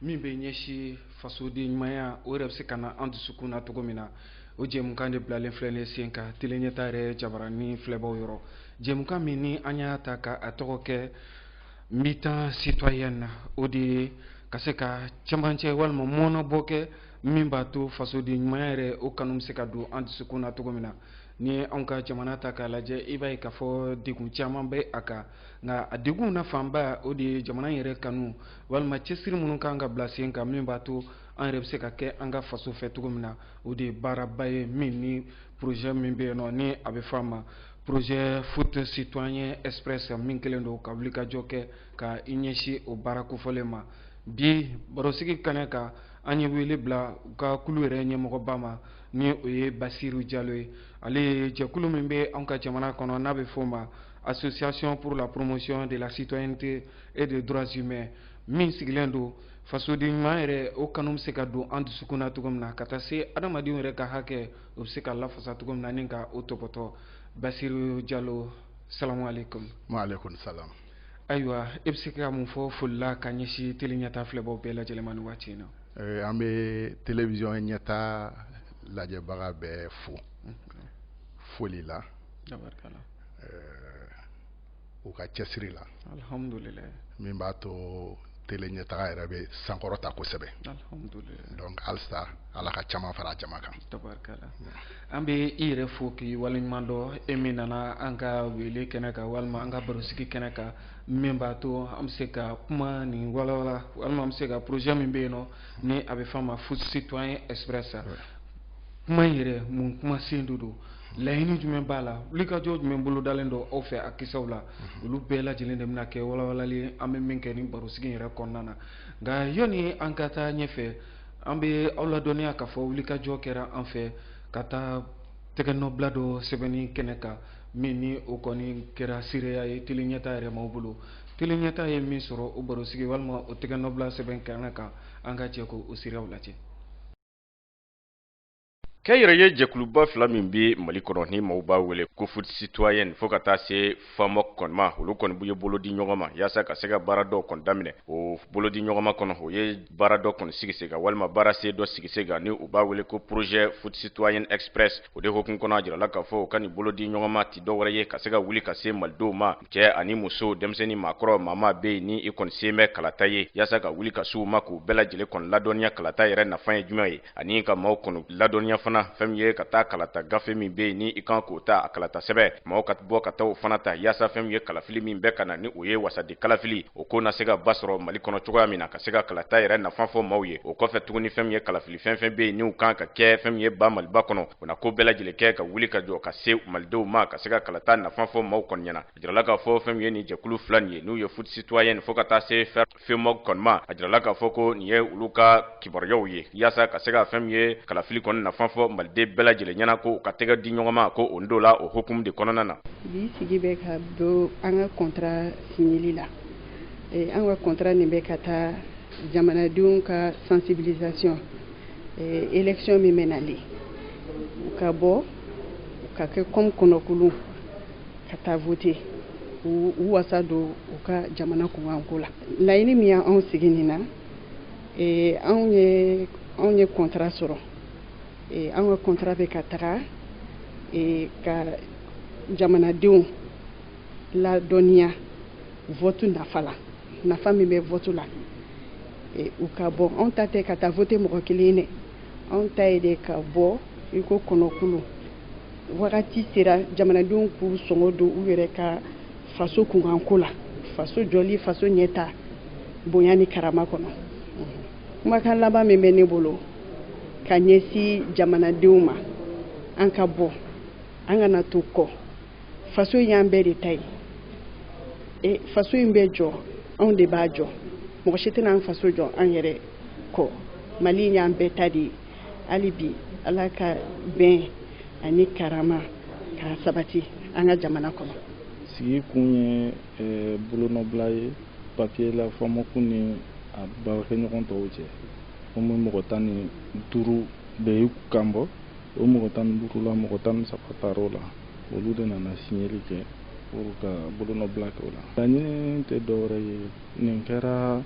min bɛ ɲɛsin fasoden ɲumanya o yɛrɛ bɛ se ka na an dusukun na cogo min na o jɛmukan de bilalen filɛ ne sen kan tele ɲɛta yɛrɛ jabaranin filɛbaw yɔrɔ jɛmukan min ni an y'a ta ka a tɔgɔ kɛ mi-temps citoyen na o de ye ka se ka cɛmancɛ walima mɔnɔbɔ kɛ min b'a to fasoden ɲumanya yɛrɛ o kanu bɛ se ka don an dusukun na cogo min na ni i ye anw ka jamana ta k'a lajɛ i b'a ye k'a fɔ degun caman bɛ a kan nka a degun na fanba o de ye jamana yɛrɛ kanu walima cɛsiri minnu kan ka bila sen kan min b'a to an yɛrɛ bɛ se ka kɛ an ka faso fɛ cogo min na o de ye baaraba ye min ni projet min bɛ yen nɔ ni a bɛ fɔ a ma projet foot citoyen express min kɛlen don ka wulikajɔ kɛ ka i ɲɛsin o baara kofɔlen ma bi barosigi kɛnɛ kan an ye wele bila u ka kulu yɛrɛ ɲɛmɔgɔba ma ni o ye basiru jalo ye ale ye jɛkulu min bɛ anw ka jamana kɔnɔ n'a bɛ fɔ o ma association pour la promotion de la citoyenneté et des droits humains min sigilen don fasoden ɲuman yɛrɛ o kanu bɛ se ka don an dusukun na cogo min na ka taa se adamadenw yɛrɛ ka hakɛ o bɛ se ka lafasa cogo min na ni ka o tɔpɔtɔ basiru jalo salamu aleykum. waaleykum salam. ayiwa e bɛ se ka mun fɔ foli la ka ɲɛsin tele ɲɛtaa filɛbaw bɛɛ lajɛlen ma nin waati in na. Eh, an bɛ telewisɔn ɲɛtaa lajɛbaga bɛɛ fo foli la. tabarikala. Eh, u ka cɛsiri la alhamdulilayi min b'a to tele ɲɛtaga yɛrɛ bɛ sankɔrɔta kosɛbɛ alhamdulilayi donc halisa ala ka caman fara jama kan tabarikala an bɛ i yɛrɛ fo k'i waleɲuman dɔn e min nana an ka wele kɛnɛ kan walima an ka barosigi kɛnɛ kan min b'a to an bɛ se ka kuma nin walawala walima an bɛ se ka projet min bɛ yen nɔ ni a bɛ fɔ a ma foot citoyen express a kuma yɛrɛ mun kuma sen don don laɲini jumɛn b'a la wulikajɔ jumɛn bolodalen don aw fɛ a kisɛw la mhm. olu bɛɛ lajɛlen de bɛna kɛ walawalali an bɛ min kɛ nin barosigi yɛrɛ kɔnɔna na nka yanni an ka taa ɲɛfɛ an bɛ aw ladɔnniya k'a fɔ wulikajɔ kɛra an fɛ ka taa tɛgɛnɔbila dɔ sɛbɛnni kɛnɛ kan min ni o kɔni kɛra seereya ye tele ɲɛta yɛrɛ m'aw bolo tele ɲɛta ye min sɔrɔ o barosigi walima o tɛgɛnɔbila sɛbɛn kɛnɛ kan an ka jɛ k'o seereyaw lajɛ Kɛ yɛrɛ ye jɛkuluba fila min bɛ mali kɔnɔ ni maaw b'a wele ko foot citoyen fo ka taa se FAMOC kɔni ma olu kɔni u ye bolo di ɲɔgɔn ma yaasa ka se ka baara dɔ kɔni daminɛ o bolo di ɲɔgɔnma kɔnɔ u ye baara dɔ kɔni sigi sen kan walima baara sen dɔ sigi sen kan ni u b'a wele ko projet foot citoyen express o de hukumu kɔnɔ a jirala k'a fɔ u ka nin bolo di ɲɔgɔnma tɛ dɔ wɛrɛ ye ka se ka wuli ka se malidenw ma cɛ ani muso denmisɛn ni maakɔrɔ maa bɛ yen ni i kɔni se bɛ kalata ye yaasa ka wuli ka se u ma k'u bɛɛ lajɛlen kɔni ladɔnniya kalata yɛrɛ nafa ye jumɛn ye ani ka maaw kɔni ladɔnniya fana fɛn min ye ka taa kalata gafe min bɛ yen ni i kan k'o ta a kalata sɛbɛ maaw ka bɔ ka taa o fana ta yaasa fɛn min ye kalafili min bɛ ka na ni o ye wasaden kalafili o ko na se ka ba sɔrɔ mali kɔnɔ cogoya min na ka se ka kalata yɛrɛ nafa fɔ maaw ye o kɔfɛ tuguni fɛn min ye kalafili fɛn fɛn bɛ yen n'u kan ka kɛ fɛn min ye ba maliba kɔnɔ o na ko bɛɛ lajɛlen kɛ ka wuli ka jɔ ka se malidenw ma ka se ka kalata nafa fɔ maaw kɔni ɲɛna a jirala k'a fɔ fɛn min ye nin jɛkulu fila nin ye n'u ye foot citoyen fo ka taa se fɛ FAMOC kɔni ma a jirala k'a fɔ ko nin ye olu ka kibaruyaw ye yaasa ka se ka fɛn min ye kalafili kɔni nafa fɔ maliden bɛɛ lajɛlen ɲɛna ko u ka tɛgɛ di ɲɔgɔnma ko o ndo la o hukumu de kɔnɔna na bi sigi bɛ ka don an ka kɔntara sinyeli la eh, an ka kɔntara nin bɛ ka taa jamanadenw ka sensibilisation eh, élection min bɛ nalen u ka bɔ u ka kɛ kɔmi kɔnɔkulu ka taa vote u wasa don u ka jamana kunkanko la laɲini min y'anw sigi nin na eh, anw ye anw ye kɔntara sɔrɔ eh, anw ka kɔntara bɛ ka taga eh, ka jamanadenw ladɔnniya vote nafa la nafa min bɛ vote la u ka bɔ anw ta tɛ ka taa vote mɔgɔ kelen dɛ anw ta ye de ka bɔ i ko kɔnɔkulu wagati sera jamanadenw k'u sɔngɔ don u yɛrɛ ka faso kunkanko la faso jɔli faso ɲɛtaa bonya ni karama kɔnɔ kumakan laban min bɛ ne bolo ka ɲɛsin jamanadenw ma an ka bɔ an kana to kɔ faso in y'an bɛɛ de ta ye e faso in bɛ jɔ anw de b'a jɔ mɔgɔ si tɛna an faso jɔ an yɛrɛ kɔ mali in y'an bɛɛ ta de ye hali bi ala ka bɛn ani karama k'a sabati an ka jamana kɔnɔ sigi kun ye eh, bolonɔbila ye papiye la FAMOC ni a baarakɛɲɔgɔn tɔw cɛ komi mɔgɔ tan ni duuru b'u kan bɔ o mɔgɔ tan ni duuru la mɔgɔ tan ni saba tar'o la olu de nana siɲɛli kɛ pour ka bolonɔbila kɛ o la laɲini tɛ dɔwɛrɛ ye nin kɛra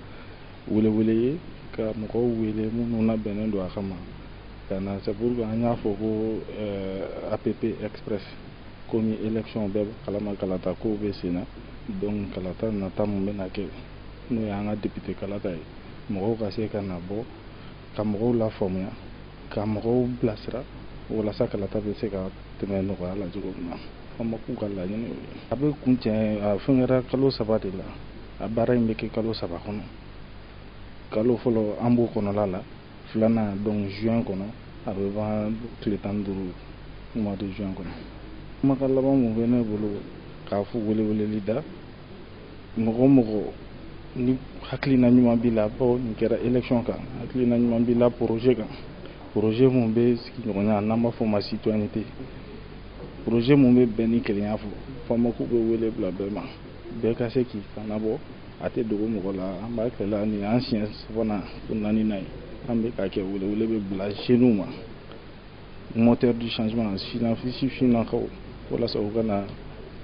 welewele ye ka mɔgɔw wele minnu labɛnnen don a kama ka na c'est pour que an y'a fɔ ko eh, app express komi élection bɛɛ kalama kalata kow bɛ sen na donc kalata nata min bɛna kɛ n'o y'an ka député kalata ye mɔgɔw ka se ka na bɔ ka mɔgɔw lafaamuya ka mɔgɔw bilasira walasa kalata bɛ se ka tɛmɛ nɔgɔya la cogo min na FAMOC ka laɲini ye a bɛ kuncɛ a fɛn kɛra kalo saba de la a baara in bɛ kɛ kalo saba kɔnɔ kalo fɔlɔ an b'o kɔnɔla la filanan donc juin kɔnɔ a bɛ ban tile tan ni duuru mois de juin kɔnɔ kumakan laban mun bɛ ne bolo k'a fɔ weleweleli da mɔgɔ mɔgɔ ni hakilina ɲuman b'i la bawo nin kɛra élection kan hakilina ɲuman b'i la projet kan projet mun bɛ sigiɲɔgɔnya n'an b'a fɔ ma citoyenneté projet mun bɛ bɛn ni kelenya fɔ FAMOC bɛ wele bila bɛɛ ma bɛɛ ka se k'i kanbɔ a tɛ dogo mɔgɔ la an b'a kɛla nin an siɲɛ sabanan fo naaninan ye an bɛ k'a kɛ welewele bɛ bila jeunes ma moteur du changement sina sifinnakaw walasa u ka na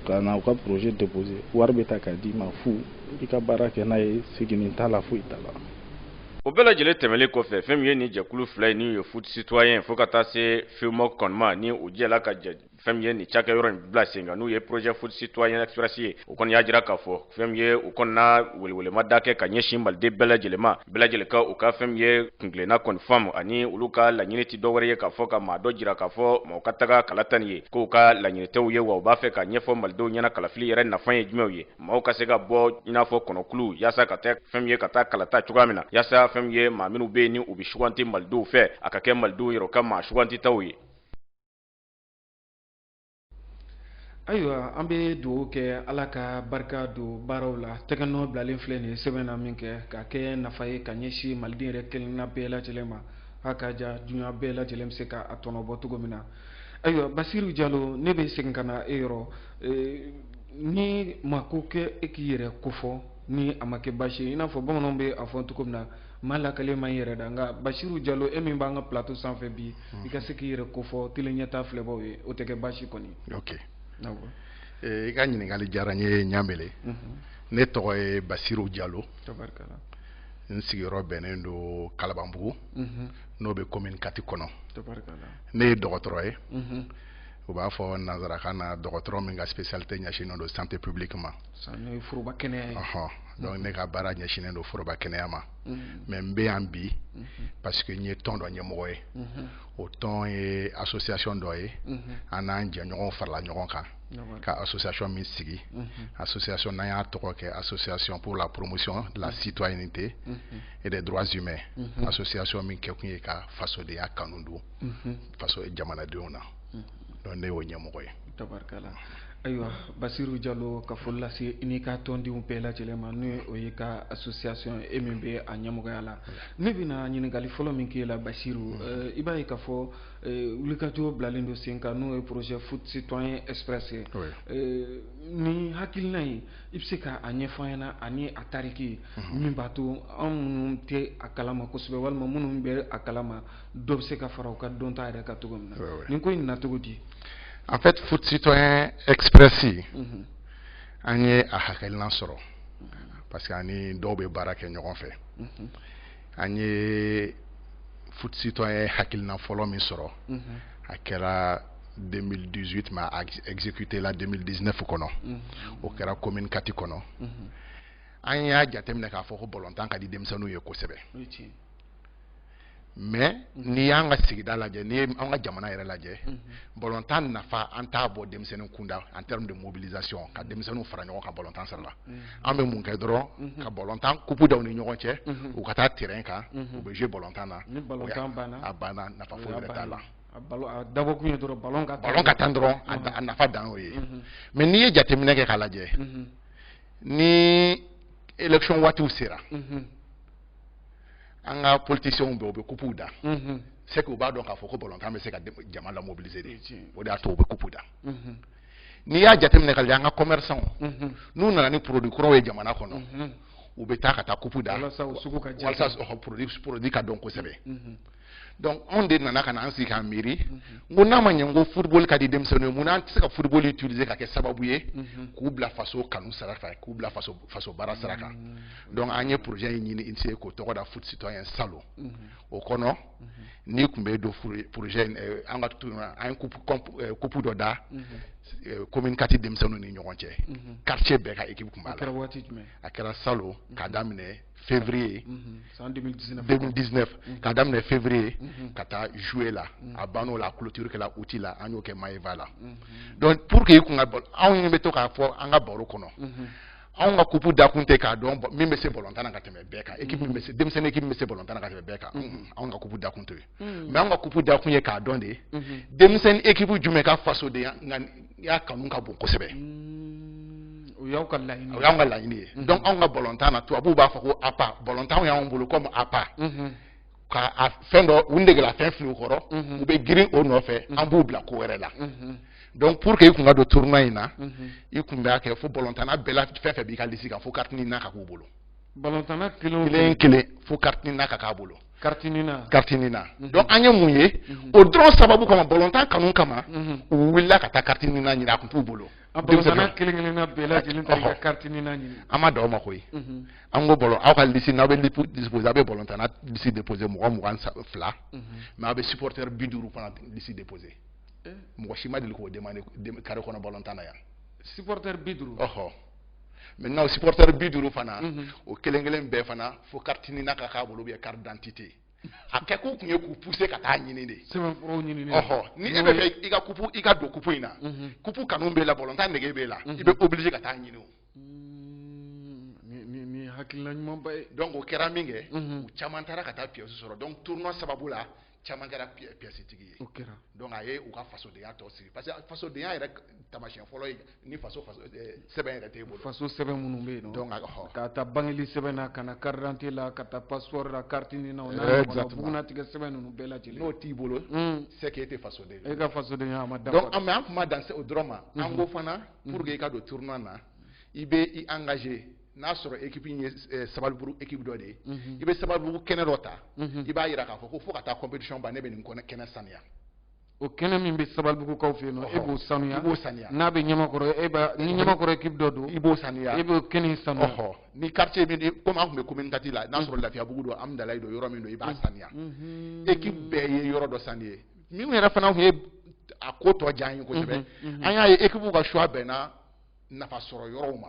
ka na u ka projet déposer wari bɛ ta k'a d'i ma fu i ka baara kɛ n'a ye seginni t'a la foyi t'a la o bɛɛ lajɛlen tɛmɛnlen kɔfɛ fɛn min ye nin jɛkulu fila in n'u ye foot citoyen fo ka taa se FAMOC kɔnɔma ni u jɛla ka jɛ fɛn min ye nin cakɛyɔrɔ in bila sen kan n'u ye projet foot citoyen express ye u kɔni y'a jira k'a fɔ fɛn min ye u kɔni na welewelema da kɛ ka ɲɛsin maliden bɛɛ lajɛlen ma bɛɛ lajɛlen ka u ka fɛn min ye kuntilenna kɔni faamu ani olu ka laɲini tɛ dɔwɛrɛ ye k'a fɔ ka maa dɔ jira k'a fɔ maaw ka taga kalata nin ye k'u ka laɲini t'o ye wa u b'a fɛ k'a ɲɛfɔ malidenw ɲɛna kalafili yɛrɛ nafa ye jumɛnw ye maaw ka se ka bɔ i n'a fɔ kɔnɔkulu yaasa ka taa fɛn min ye ka taa kalata cogoya min na yaasa fɛn min ye maa minnu bɛ yen ni u bɛ suganti malidenw fɛ a ka kɛ malidenw yɛrɛ ka maa sugantitaw ye ayiwa an bɛ dugawu kɛ ala ka barika don baaraw la tɛgɛnɔ bilalen filɛ nin sɛbɛn na minkɛ k'a kɛ nafa ye ka ɲɛsin maliden yɛrɛ kelenna bɛɛ lajɛlen ma a ka ja dunya bɛɛ lajɛlen bɛ se ka a tɔnɔbɔ cogo min na ayiwa basiru jalo ne bɛ segin ka na e yɔrɔ e, ni mako kɛ e k'i yɛrɛ kofɔ ni a ma kɛ baasi ye i n'a fɔ bamananw bɛ a fɔ cogo min na maa lakalen ma i yɛrɛ da nka basiru jalo e min b'an ka plateau sanfɛ bi i ka se k'i yɛrɛ kofɔ tele ɲɛtaa filɛbaw ye o tɛ kɛ baasi kɔni ok i ka ɲininkakali diyara n ye ɲamele mhm. ne tɔgɔ ye basiru jalo n sigiyɔrɔ bɛnnen don kalabanbugu mhm. n'o bɛ commune kati kɔnɔ ne ye dɔgɔtɔrɔ ye mhm. u b'a fɔ nansarakan na dɔgɔtɔrɔ min ka spécialité ɲɛsinnen don santé publique ma foroba kɛnɛya donc ne ka baara ɲɛsinnen don foroba kɛnɛya ma mais n bɛ yan bi parce que n ye tɔn dɔ ɲɛmɔgɔ ye o tɔn ye association dɔ ye an n'an jɛɲɔgɔnw farala ɲɔgɔn kan ka association min sigi association n'an y'a tɔgɔ kɛ association pour la promotion de la citoyenneté et des droits humains association min kɛkun ye ka fasodenya kanu don faso jamanadenw na donc ne y'o ɲɛmɔgɔ ye tabarikala ayiwa basiru jalo ka foli lase i n'i ka tɔndenw bɛɛ lajɛlen ma n'o y'i ka association e min bɛ a ɲɛmɔgɔya la ne bɛna ɲininkali fɔlɔ min k'e la basiru mm-hmm. eh, i b'a ye k'a fɔ eh, wulikajɔ bilalen don sen kan n'o ye projet foot citoyen express ye eh, nin hakilina in i bɛ se ka a ɲɛfɔ an ɲɛna ani a tariki mm-hmm. min b'a to an minnu tɛ a kalama kosɛbɛ walima minnu bɛ a kalama dɔ bɛ se ka fara u ka dɔnta yɛrɛ kan cogo min na nin ko in na cogo di en fait foot citoyen express mhm. an ye a hakilinan sɔrɔ parce que an ni dɔw bɛ baara kɛ ɲɔgɔn fɛ mhm. an ye foot citoyen hakilinan fɔlɔ min sɔrɔ mhm. a kɛra 2018 mais a exécuté la 2019 kɔnɔ o kɛra commune kati kɔnɔ an y'a jateminɛ k'a fɔ ko bɔlɔntan ka di denmisɛnninw ye kosɛbɛ mais n'i y'an ka sigida lajɛ n'i ye an ka jamana yɛrɛ lajɛ mhm. balontan nafa an t'a bɔ denmisɛnnin kunda en terme de mobilisation ka denmisɛnninw fara ɲɔgɔn kan balontan sira la mhm. an bɛ mun kɛ dɔrɔn mhm. ka balontan kupu da u ni ɲɔgɔn cɛ u ka taa terrain kan u bɛ jouer balontan na a banna nafa foyi wɛrɛ t'a la a dabɔ kun ye dɔrɔn balon ka balon ka tan dɔrɔn a nafa dan y'o ye mais n'i ye jateminɛ kɛ k'a lajɛ ni élection waatiw sera an ka politiciens bɛɛ u bɛ kupuw da mhm. c'est que u b'a dɔn k'a fɔ ko balontan bɛ se ka jama la mobiliser de o de y'a to u bɛ kupu da mhm. n'i y'a jateminɛ k'a lajɛ an ka commerçants mhm. n'u nana ni produit kuraw ye jamana kɔnɔ u bɛ taa ka taa kupu da walasa u sugu ka diya walasa produit produit ka dɔn kosɛbɛ donc anw de nana ka na an sigi k'an miiri n ko n'a ma ɲɛ n ko football ka di denmisɛnninw ye mun na an tɛ se ka football utiliser k'a kɛ sababu ye k'u bila faso kanu sira fɛ k'u bila faso faso baara sira kan donc an ye projet in initier k'o tɔgɔ da foot citoyen salon o kɔnɔ n'i kun bɛ don projet in eh, an ka tu an ye coupe eh, coupe dɔ da eh, commune kati denmisɛnninw ni ɲɔgɔn cɛ quartier bɛɛ ka équipe kun b'a la a kɛra salon k'a daminɛ février. Mhm. c'est en 2019. 2019 mhm. k'a daminɛ février. Mhm. ka taa juillet la. a banna o la a clôture kɛla août la an y'o kɛ Maeva la. donc pour que i kun ka balo anw ɲɛ bɛ to k'a fɔ an ka baro kɔnɔ. anw ka kupu dakun tɛ k'a dɔn min bɛ se bɔlɔntan na ka tɛmɛ bɛɛ kan équipe min bɛ se denmisɛnnin équipe min bɛ se bɔlɔntan na ka tɛmɛ bɛɛ kan anw ka kupu dakun t'o ye mais anw ka kupu dakun ye k'a dɔn de denmisɛnnin équipe jumɛn ka fasodenya i y'a kanu ka bon kosɛbɛ o y'aw ka laɲini o y'anw ka laɲini ye donc anw ka balontan na tubabuw b'a fɔ ko appât balontanw y'anw bolo comme appât ka fɛn dɔ u negela fɛn fili u kɔrɔ u bɛ girin o nɔfɛ an b'u bila ko wɛrɛ la donc pour que i kun ka don tournoi in na i kun b'a kɛ fo balontanna bɛɛ la fɛn fɛn b'i ka lisi kan fo carte NINA ka k'u bolo balontanna kelen kelen fo carte NINA ka k'a bolo carte NINA mhm. donc an ye mun ye mhm. o dɔrɔn sababu kama bɔlɔntan kanu kama mhm. u wulila ka taa carte NINA ɲini a kun t'u bolo an ma dan o ma koyi an ko bɔlɔn aw ka lisi n'aw bɛ déposer aw bɛ bɔlɔntanna lisi déposer mɔgɔ mugan ni fila mais aw bɛ supporter bi duuru fana lisi déposer eh. mɔgɔ si ma deli k'o demander carré kɔnɔ bɔlɔntan na yan supporter bi duuru ɔhɔ maintenant o supporter bi duuru fana mhm. o kelen kelen bɛɛ fana fo carte nina ka k'a bolo ou bien carte d'identité a kɛ kun tun ye k'u pousser ka taa ɲini de ɔhɔ ni e bɛ fɛ i ka kupu i ka don kupu in na mhm. kupu kanu b'e la balɔntan nege b'e la mhm. i bɛ obligé ka taa ɲini o mm, hakilila ɲumanba ye donc o kɛra min kɛ u caman taara ka taa pièce sɔrɔ donc tournoi sababu la caman kɛra pièce tigi ye donc a ye u ka fasodenya tɔ sigi parce que fasodenya yɛrɛ tamasiyɛn fɔlɔ ye ni faso sɛbɛn yɛrɛ t'e bolo faso sɛbɛn minnu bɛ yen k'a ta bangeli sɛbɛn na ka na carte d'identité la ka taa passeport la carte nina o n'a ɲɔgɔnna bugunnatigɛ sɛbɛn ninnu bɛɛ lajɛlen n'o t'i bolo hmm. c'est que e tɛ fasoden e ka fasodenya ma dafa an tun ma dan o dɔrɔn ma an ko fana pour que i ka don tournoi na i bɛ i engager n'a sɔrɔ ekipi ye eh, sabalibugu ekipi dɔ de ye mhm. i bɛ sabalibugu kɛnɛ dɔ ta mhm. i b'a jira k'a fɔ ko fo ka taa competition ban ne bɛ nin kɛnɛ sanuya o kɛnɛ min bɛ sabalibugukaw fɛ yen nɔ e b'o sanuya i b'o sanuya n'a bɛ ɲamakɔrɔ e b'a ni ɲamakɔrɔ ekipi dɔ don i b'o sanuya e b'o kɛnɛ sanuya ɔhɔ ni quartier min komi an tun bɛ commune quatre la n'a sɔrɔ lafiyabugu don hamdalaye don yɔrɔ min don i b'a sanuya ekipi bɛɛ ye yɔrɔ dɔ sanuya min yɛrɛ fana tun ye a ko tɔ diya an ye kosɛbɛ an y'a ye ekipiw ka choix bɛnna nafa sɔrɔ yɔrɔw ma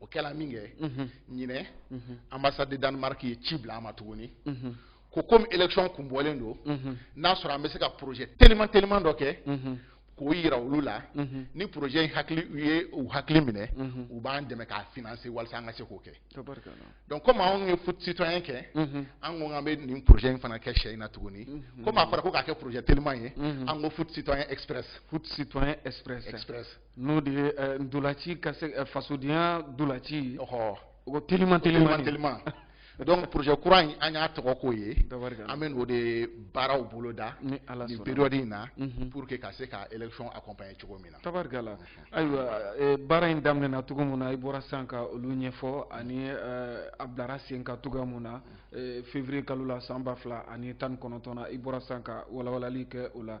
o kɛla min kɛ ɲinɛ ambassade de danemark ye ci bila an ma tuguni ko komi election kun bɔlen don n'a sɔrɔ an bɛ se ka projet teliman teliman dɔ kɛ k'o yira olu la ni projet in hakili u ye u hakili minɛ u b'an dɛmɛ k'a financer walasa an ka se k'o kɛ donc komi anw ye foot citoyen kɛ an ko k'an bɛ nin projet in fana kɛ sen in na tuguni komi a fɔra ko k'a kɛ projet teliman ye an ko foot citoyen express foot citoyen express express n'o de ye eh, ntolaci ka se eh, fasodenya ntolaci ɔhɔ ko teliman teliman teliman donc projet kura in an y'a tɔgɔ k'o ye an bɛ n'o de baaraw boloda nin période in na mhm. pour que ka se ka élection accompagner cogo min na tabarikala mhm. ayiwa eh, baara in daminɛna cogo min na i bɔra sisan ka olu ɲɛfɔ ani eh, a bilara sen kan cogoya min na eh, février kalo la san ba fila ani tan ni kɔnɔntɔn na i bɔra sisan ka walawalali kɛ o la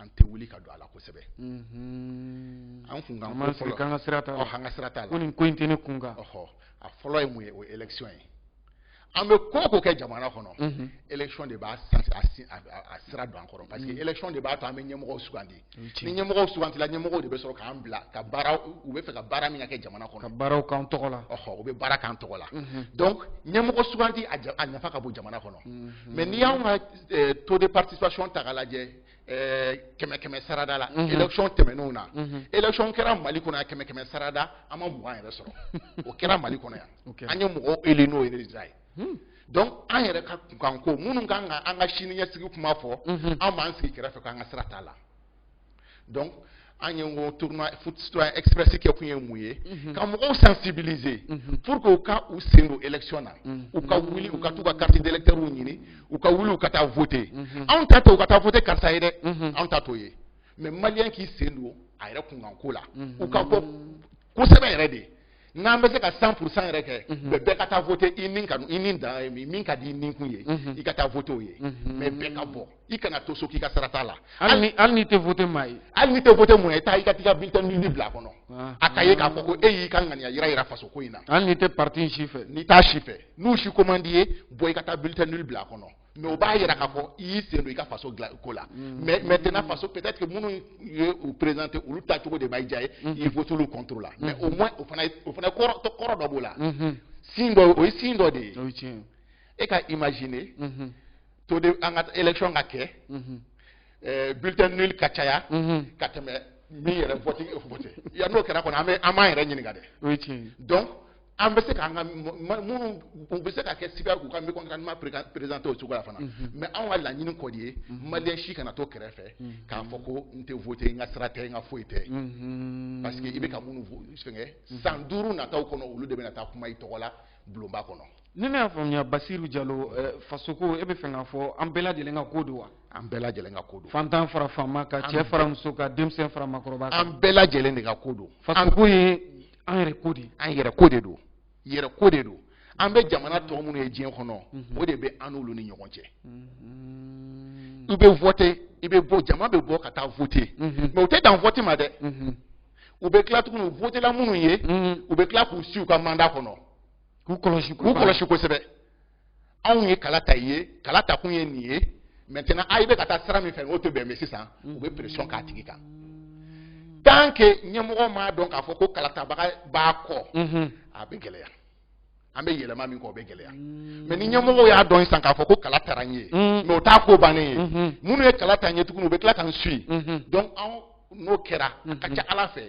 an tɛ wuli ka don a la kosɛbɛ mm-hmm. an kunkanko fɔlɔ an ka sira t'a la an ka sira t'a la ko nin ko in tɛ ne kun kan a fɔlɔ ye mun ye o ye election ye an bɛ ko o ko kɛ jamana kɔnɔ mm-hmm. election de b'a a sira don an kɔrɔ parce que mm-hmm. election de b'a to an bɛ ɲɛmɔgɔw sugandi ni ɲɛmɔgɔw sugantila ɲɛmɔgɔw de bɛ sɔrɔ k'an bila ka baara u bɛ fɛ ka baara min ka kɛ jamana kɔnɔ ka baaraw k'an tɔgɔ la ɔhɔ u bɛ baara k'an tɔgɔ la donc ɲɛmɔgɔ suganti a nafa ka bon jamana kɔnɔ mais n'i y'anw ka eh, taux de participation ta k'a lajɛ eh, kɛmɛ kɛmɛ sarada la mhm. élection tɛmɛnenw na mhm. élection kɛra mali kɔnɔ yan kɛmɛ kɛmɛ sarada an ma mugan yɛrɛ sɔrɔ o kɛra mali kɔnɔ yan an ye mɔgɔw élu n'o ye résultat ye hmm. donc an yɛrɛ ka kunkanko minnu kan ka an ka siniɲɛsigi kuma fɔ mhm. an b'an sigi kɛrɛfɛ k'an ka sira t'a la donc an ye ko tournoi foot citoyen express kɛ kun ye mun ye mhm. ka mɔgɔw sensibiliser mhm. pour que u ka u sen don élection na mhm. u ka wuli u ka t'u ka carte d'électeur ɲini u ka wuli u ka taa voter anw ta tɛ u ka taa voter karisa ye dɛ anw ta t'o ye mais maliyɛn k'i sen don a yɛrɛ kunkanko la u ka bɔ kosɛbɛ yɛrɛ de n'an bɛ se ka 100 pour cent yɛrɛ kɛ mhm. mais bɛɛ ka taa voter i ni ka i ni dan ye min ka di i ni kun ye mhm. i ka taa voter o ye mhm. mais bɛɛ ka bɔ i kana to so k'i ka sira t'a la hali ni hali n'i tɛ voter maa ye hali n'i tɛ voter mun ye taa i ka t'i ka bulletin nul bila a kɔnɔ ah. a ka ye k'a fɔ ko e y'i ka ŋaniya yira yira faso ko in na hali n'i tɛ parti in si fɛ n'i t'a si fɛ n'u si ko man d'i ye bɔ i ka taa bulletin nul bila a kɔnɔ mais o b'a yira k'a fɔ i y'i sen don i ka faso ko la mm. mais maintenant mm. faso peut-être que minnu ye u présenter olu ta cogo de ma diya i ye mm. i vote olu contre la mais au moins o fana o fana kɔrɔ kɔrɔ dɔ b'o la mm-hmm. signe dɔ o ye signe dɔ de ye e ka imaginer mm-hmm. to de an ka élection ka kɛ mm-hmm. eh, bulletin nul ka caya ka tɛmɛ min yɛrɛ vote vote ya n'o kɛra kɔni an bɛ an b'an yɛrɛ ɲininka dɛ donc an bɛ se k'an ka minnu u bɛ se ka kɛ signe k'u ka mécontentement présenter o cogo la fana mhm. mais anw ka laɲini kɔni ye mhm. malien si kana to kɛrɛfɛ mhm. k'a fɔ ko n tɛ voter n ka sira tɛ n ka foyi tɛ parce que i bɛ ka minnu fɛngɛ san duuru nataw kɔnɔ olu de bɛna taa kuma i tɔgɔ la bulonba kɔnɔ ni ne y'a faamuya basiru jalo eh, fasoko e bɛ fɛ k'a fɔ an bɛɛ lajɛlen ka ko don wa an bɛɛ lajɛlen ka ko don fantan fara faama kan cɛ fara muso kan denmisɛn fara maakɔrɔba kan an bɛɛ lajɛlen de ka ko don fasoko ye an yɛrɛ ko de an yɛrɛ ko de don yɛrɛ ko de don an bɛ jamana tɔ minnu ye diɲɛ kɔnɔ o de bɛ an n'olu ni ɲɔgɔn cɛ i bɛ voter i bɛ bɔ jama bɛ bɔ ka taa voter mais u tɛ dan vote ma dɛ u bɛ tila tuguni u votela minnu ye u bɛ tila k'u suit u ka mandat kɔnɔ k'u kɔlɔsi k'u kɔlɔsi kosɛbɛ anw ye kala ta i ye kala ta kun ye nin ye maintenant a i bɛ ka taa sira min fɛ o tɛ bɛn mais sisan u bɛ pression k'a tigi kan tant que ɲɛmɔgɔ m'a dɔn k'a fɔ ko kalatabaga b'a kɔ a bɛ gɛlɛya an bɛ yɛlɛma min kɔ o bɛ gɛlɛya mais ni ɲɛmɔgɔw y'a dɔn sisan k'a fɔ ko kala tara n ye mais o t'a ko bannen ye minnu ye kala ta n ye tuguni u bɛ tila ka n suit donc anw n'o kɛra a ka ca ala fɛ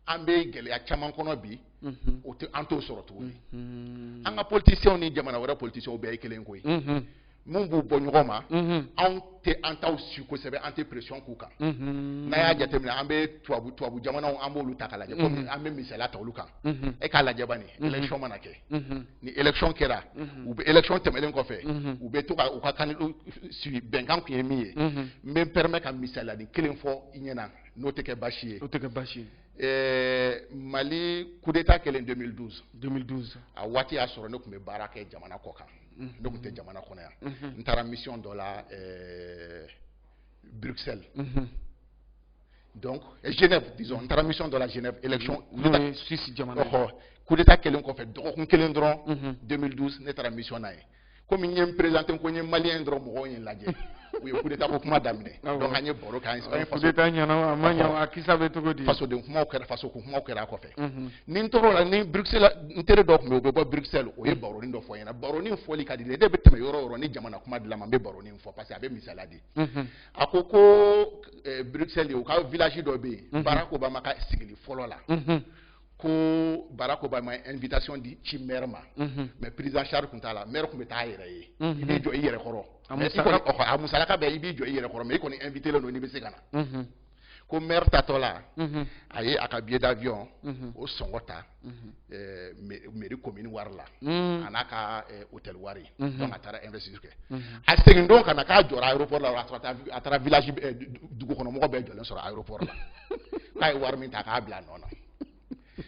an bɛ gɛlɛya caman kɔnɔ bi o tɛ an t'o sɔrɔ tuguni an ka politiciens ni jamana wɛrɛ politiciens bɛɛ ye kelen koyi mun b'u bɔ ɲɔgɔn ma anw tɛ an taw suit kosɛbɛ an tɛ pression k'u kan n'a y'a jateminɛ an bɛ tubabu tubabu jamanaw an b'olu ta k'a lajɛ komi an bɛ misaliya ta olu kan e k'a lajɛ bani élection mana kɛ ni élection kɛra u bɛ élection tɛmɛnen kɔfɛ u bɛ to ka u ka kan sigi bɛnkan tun ye min ye n bɛ n permet ka misaliyanin kelen fɔ i ɲɛna n'o tɛ kɛ baasi ye. n'o tɛ kɛ baasi ye. Ɛɛ Mali coup d'Etat kɛlen 2012. 2012. A waati y'a sɔrɔ ne tun bɛ baara kɛ jamana kɔ kan. Unhun. Ne tun tɛ jamana kɔnɔ yan. Unhun. N taara mission dɔ la ɛɛ Bruxelles. Unhun. donc eh, Genève disons n taara mission dɔ la Genève élection. n'o ye Suisse jamana ye. Ɔhɔ coup d'Etat kɛlen kɔfɛ dɔgɔkun kelen dɔrɔn. Unhun. 2012 ne taara mission na yen. komi n ye n présenter ko n ye malien dɔrɔn mɔgɔw ye n lajɛ u ye coup d'Etat ko kuma daminɛ donc an ye baro kɛ an ye coup d'Etat ɲɛna a ma ɲɛ a kisa bɛ cogo di fasoden kumaw kɛra faso ko kumaw kɛra a kɔfɛ ni n tɔgɔ la ni bruxelles n teri dɔ tun bɛ yen o bɛ bɔ bruxelles o ye baronin dɔ fɔ n ɲɛna baronin fɔli ka di ne ye n bɛ tɛmɛ yɔrɔ o yɔrɔ ni jamana kuma dira n ma n bɛ baronin fɔ parce que a bɛ misaliya di a ko ko bruxelles u ka village dɔ bɛ yen barack obama ka sigili fɔlɔ la ko Barack Obama ye invitation di ci maire ma mhm. mais prise en charge tun t'a la maire tun bɛ taa a yɛrɛ ye mhm. i b'i jɔ i yɛrɛ kɔrɔ a musalaka bɛɛ i b'i jɔ i yɛrɛ kɔrɔ mais i kɔni invitélen don n'i bɛ se ka na mhm. ko maire taatɔ la a ye a ka billet d'avion o sɔngɔ ta eh, mairie commune wari la a n'a ka eh, hôtel wari donc a taara investir kɛ a segin don ka na k'a jɔra aéroport la a taara village eh, dugu kɔnɔ mɔgɔ bɛɛ jɔlen sɔrɔ aéroport la k'a ye wari min ta k'a bila a nɔ na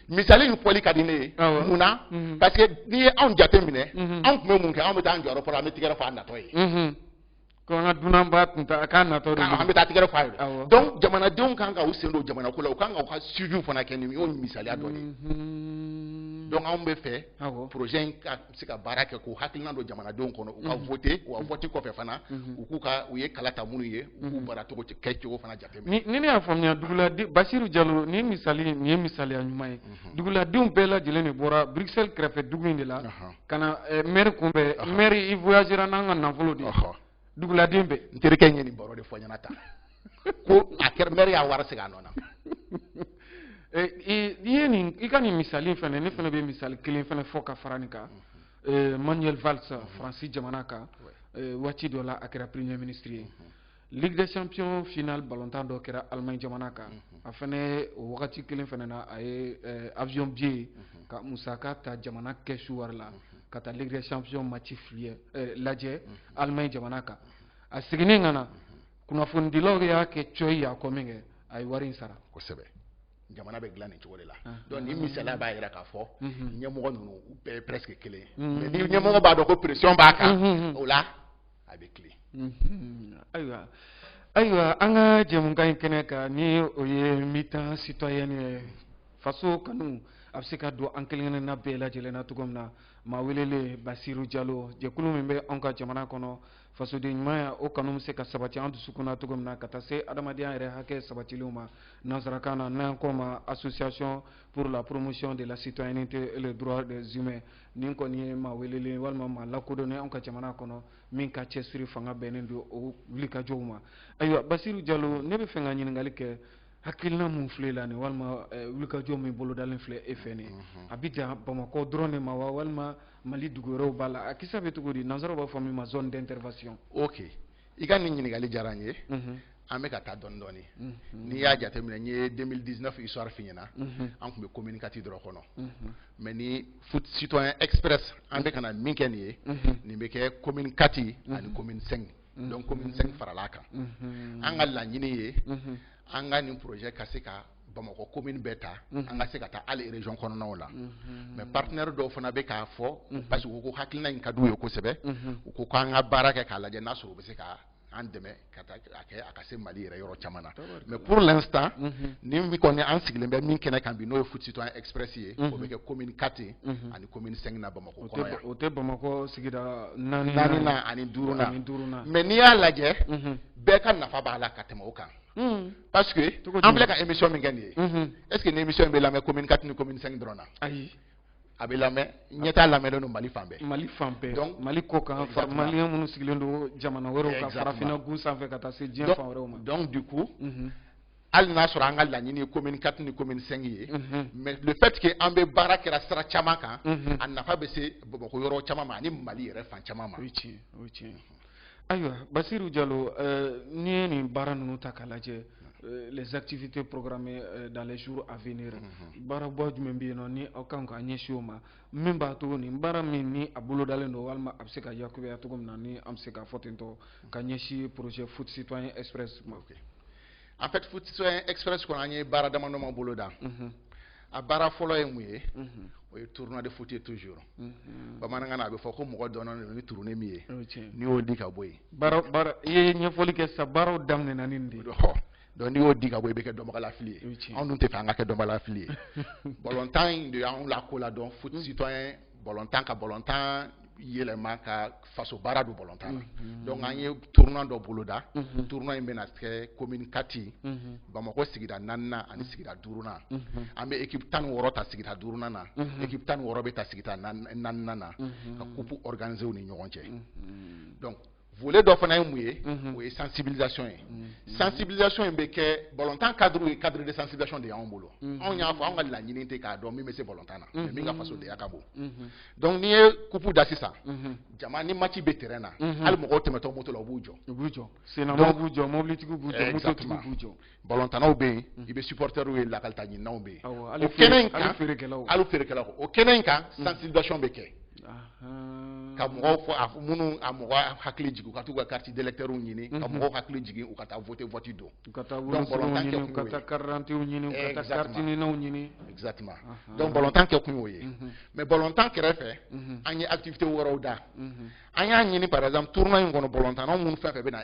misali in fɔli ka di ne ye mun na mhm. parce que n'i ye anw jate minɛ mhm. anw tun bɛ mun kɛ anw bɛ taa an jɔ aéroport la an bɛ tigɛrɛ fɔ a natɔ ye mhm. ko an ka dunanba tun taa k'a natɔ de an bɛ taa tigɛrɛ fɔ a ye donc jamanadenw kan ka u sen don jamana ko la u kan ka u ka suivi fana kɛ nin y'o misaliya dɔ de ye donc anw bɛ fɛ projet in ka se ka baara kɛ k'o hakilina don jamanadenw kɔnɔ u ka mhm. voter wa mhm. vote kɔfɛ fana mhm. u k'u ka u ye kala ta minnu ye u k'u baara cogo kɛ cogo fana jateminɛ. ni ne y'a faamuya duguladen basiru jalo nin ye misali nin ye misaliya ɲuman ye duguladenw bɛɛ lajɛlen de bɔra bruxelles kɛrɛfɛ dugu in de la ka na eh, maire kunbɛn maire i voyagera n'an ka nafolo de ye. duguladen bɛɛ n terikɛ ye nin baro de fɔ n ɲɛna tan ko a kɛra maire y'a wari segin a nɔ na eh, i ye nin i ka nin misali fana ne fana bɛ misali kelen fana fɔ ka fara nin kan eh, manuel valls mhm. faransi jamana kan eh, waati dɔ la a kɛra premier ministre ye mhm. ligue des champions finale balontan dɔ kɛra allemagne jamana kan mhm. a fana o wagati kelen fana na a ye avion billet ka musaka ta jamana kɛsu wari la ka taa ligue des champions match filɛ eh, lajɛ mhm. Allemagne jamana kan a seginnen ka na kunnafonidilaw y'a kɛ cɔyi y'a kɔ min kɛ a ye wari in sara kosɛbɛ jamana bɛ dilan nin cogo de la ah. donc nin misaliya b'a jira k'a fɔ mhm. ɲɛmɔgɔ ninnu u bɛɛ ye presque kelen ye mais ni ɲɛmɔgɔ b'a dɔn ko pression b'a kan o la a bɛ tilen mhm. ayiwa ayiwa an ka jɛmukan in kɛnɛ kan ni o ye mi-temps citoyenne ye faso kanu a bɛ se ka don an kelen-kelenna bɛɛ lajɛlen na cogo min na maa welelen basiru jalo jɛkulu min bɛ anw ka jamana kɔnɔ fasoden ɲumanya o kanu bɛ se ka sabati an dusukun na cogo min na ka taa se adamadenya yɛrɛ hakɛ sabatilenw ma nansarakan na n'an k'o ma association pour la promotion de la citoyenneté et les droits des humains nin kɔni ye maa welelen walima maa lakodɔnnen anw ka jamana kɔnɔ min ka cɛsiri fanga bɛnnen don o wulikajɔw ma ayiwa basiru jalo ne bɛ fɛ ka ɲininkali kɛ hakilina min filɛ la nin walima eh, wulikajɔ min bolodalen filɛ e fɛ nin mhm. a bɛ dan bamakɔ dɔrɔn de ma wa walima mali dugu wɛrɛw b'a la a kisa bɛ cogo di nansaraw b'a fɔ min ma zone d'intervention ok i ka nin ɲininkali diyara n ye an bɛ ka taa dɔɔni dɔɔni n'i y'a jateminɛ n ye 2019 histoire f'i ɲɛna an tun bɛ commune 4 dɔrɔn kɔnɔ mais nin foot citoyen express an bɛ ka na min kɛ nin ye nin bɛ kɛ commune 4 ani commune 5 donc commune 5 faral'a kan an ka laɲini ye an ka nin projet ka se ka bamakɔ commune bɛɛ ta mhm. an ka se ka taa hali région kɔnɔnaw la mhm. mais partenaire dɔw fana bɛ k'a fɔ mhm. parce que u ko hakilina in ka d'u ye kosɛbɛ u ko k'an ka baara kɛ k'a lajɛ n'a sɔrɔ u bɛ se ka an dɛmɛ ka taa a kɛ a ka se mali yɛrɛ yɔrɔ caman na mais pour l'instant nin min kɔni an sigilen bɛ min kɛnɛ kan bi n'o ye foot citoyen express ye o bɛ kɛ commune 4 ani commune 5 na bamakɔ kɔnɔ yan o tɛ bamakɔ sigida naaninan ani duurunan mais n'i y'a lajɛ bɛɛ ka nafa b'a la ka tɛmɛ o kan parce que an filɛ ka émission min kɛ nin ye mhm. est ce que nin émission in bɛ lamɛn commune 4 ni commune 5 dɔrɔn na ayi a bɛ lamɛn ɲɛtaa lamɛnnen don mali fan bɛɛ mali fan bɛɛ donc mali kɔkan maliyɛn minnu sigilen don jamana wɛrɛw kan farafinna gun sanfɛ ka taa se diɲɛ fan wɛrɛw ma donc du coup mhm. hali n'a sɔrɔ an ka laɲini ye commune 4 ni commune 5 ye mhm. mais le fait que an bɛ baara kɛra sira caman kan a nafa bɛ se bamakɔ yɔrɔ caman ma ani mali yɛrɛ fan caman ma o ye tiɲɛ o ye tiɲɛ ayiwa basiru jalo euh, n'i ye nin baara ninnu ta k'a lajɛ euh, les activités programmées euh, dans les jours à venir mhm. baaraba jumɛn bɛ yen nɔ ni aw kan ka ɲɛsin o ma min b'a to nin baara min ni a bolodalen don walima a bɛ se ka yakubaya cogo min na ni an bɛ se k'a fɔ ten tɔ ka ɲɛsin projet foot citoyen express ma en fait foot citoyen express kɔnɔ an ye baara damadama boloda mhm. a baara fɔlɔ ye mun ye mhm. o ye tournoi de foot ye toujours mhm. bamanankan na a bɛ fɔ ko mɔgɔ dɔnnen don ni turunin min ye n'i y'o di ka bɔ yen baara baara i ye ɲɛfɔli kɛ sisan baaraw daminɛna ni nin de ye donc n'i y'o di ka bɔ i bɛ kɛ dɔnbagalafili ye anw dun tɛ fɛ an ka kɛ dɔnbagalafili ye balontan in de y'anw lakoladɔn foot citoyen balontan ka balontan yɛlɛma ka faso baara don balontan na mhm. donc an ye tournoi dɔ boloda mhm. tournoi in bɛna kɛ commune 4 mhm. bamakɔ sigida naaninan ani sigida duurunan an bɛ équipe tan ni wɔɔrɔ ta sigida duurunan na équipe tan ni wɔɔrɔ bɛ ta sigida naaninan na ka coupe organiser u ni ɲɔgɔn cɛ donc volet dɔ fana ye mun ye o ye sensibilisation ye sensibilisation in bɛ kɛ balontan cadre ye cadre de sensibilisation de y'anw bolo anw y'a fɔ anw ka laɲini tɛ k'a dɔn min bɛ se balontan na mais min ka fasodenya ka bon donc n'i ye kupu da sisan jama ni match bɛ terrain na hali mɔgɔw tɛmɛtɔ moto la u b'u jɔ u b'u jɔ sennamanw b'u jɔ mɔbilitigiw b'u jɔ mototigiw b'u jɔ balontannaw bɛ yen i bɛ supporters ye lakalita ɲininaw bɛ yen o kɛnɛ in kan hali feerekɛlaw o kɛnɛ in kan sensibilisation bɛ kɛ ka mɔgɔw fɔ a minnu a mɔgɔ hakili jigin u ka t'u ka carte d'électeurs ɲini ka mɔgɔw hakili jigin u ka taa voter vote don u ka taa wolosɛbɛnw ɲini u ka taa carte d'identités ɲini u ka taa carte ninaw ɲini exactement donc balontan kɛ kun y'o ye mais balontan kɛrɛfɛ an ye activités wɛrɛw da an y'a ɲini par exemple tournoi in kɔnɔ balontannaw minnu fɛn fɛn bɛ na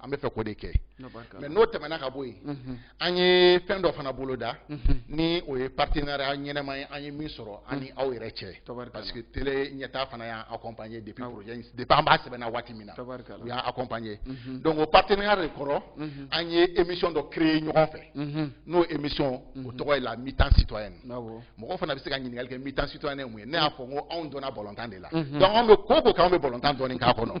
an bɛ fɛ k'o de kɛ mais n'o tɛmɛna ka bɔ yen mhm. an ye fɛn dɔ fana boloda mhm. ni o ye partenariat ɲɛnɛma ye an ye min sɔrɔ an ni mhm. aw yɛrɛ cɛ parce que télé ɲɛtaa fana y'an accompagner depuis projet in depuis an b'a sɛbɛnna waati min na u y'an accompagner donc o partenariat de kɔrɔ an ye émission dɔ créer ɲɔgɔn fɛ n'o émission o tɔgɔ ye la mi-temps citoyenne mɔgɔ fana bɛ se ka ɲininkali kɛ mi-temps citoyenne ye mun ye ne y'a fɔ n ko anw dɔnna balontan de la donc anw bɛ ko o ko kɛ anw bɛ balontan dɔɔni k'a kɔnɔ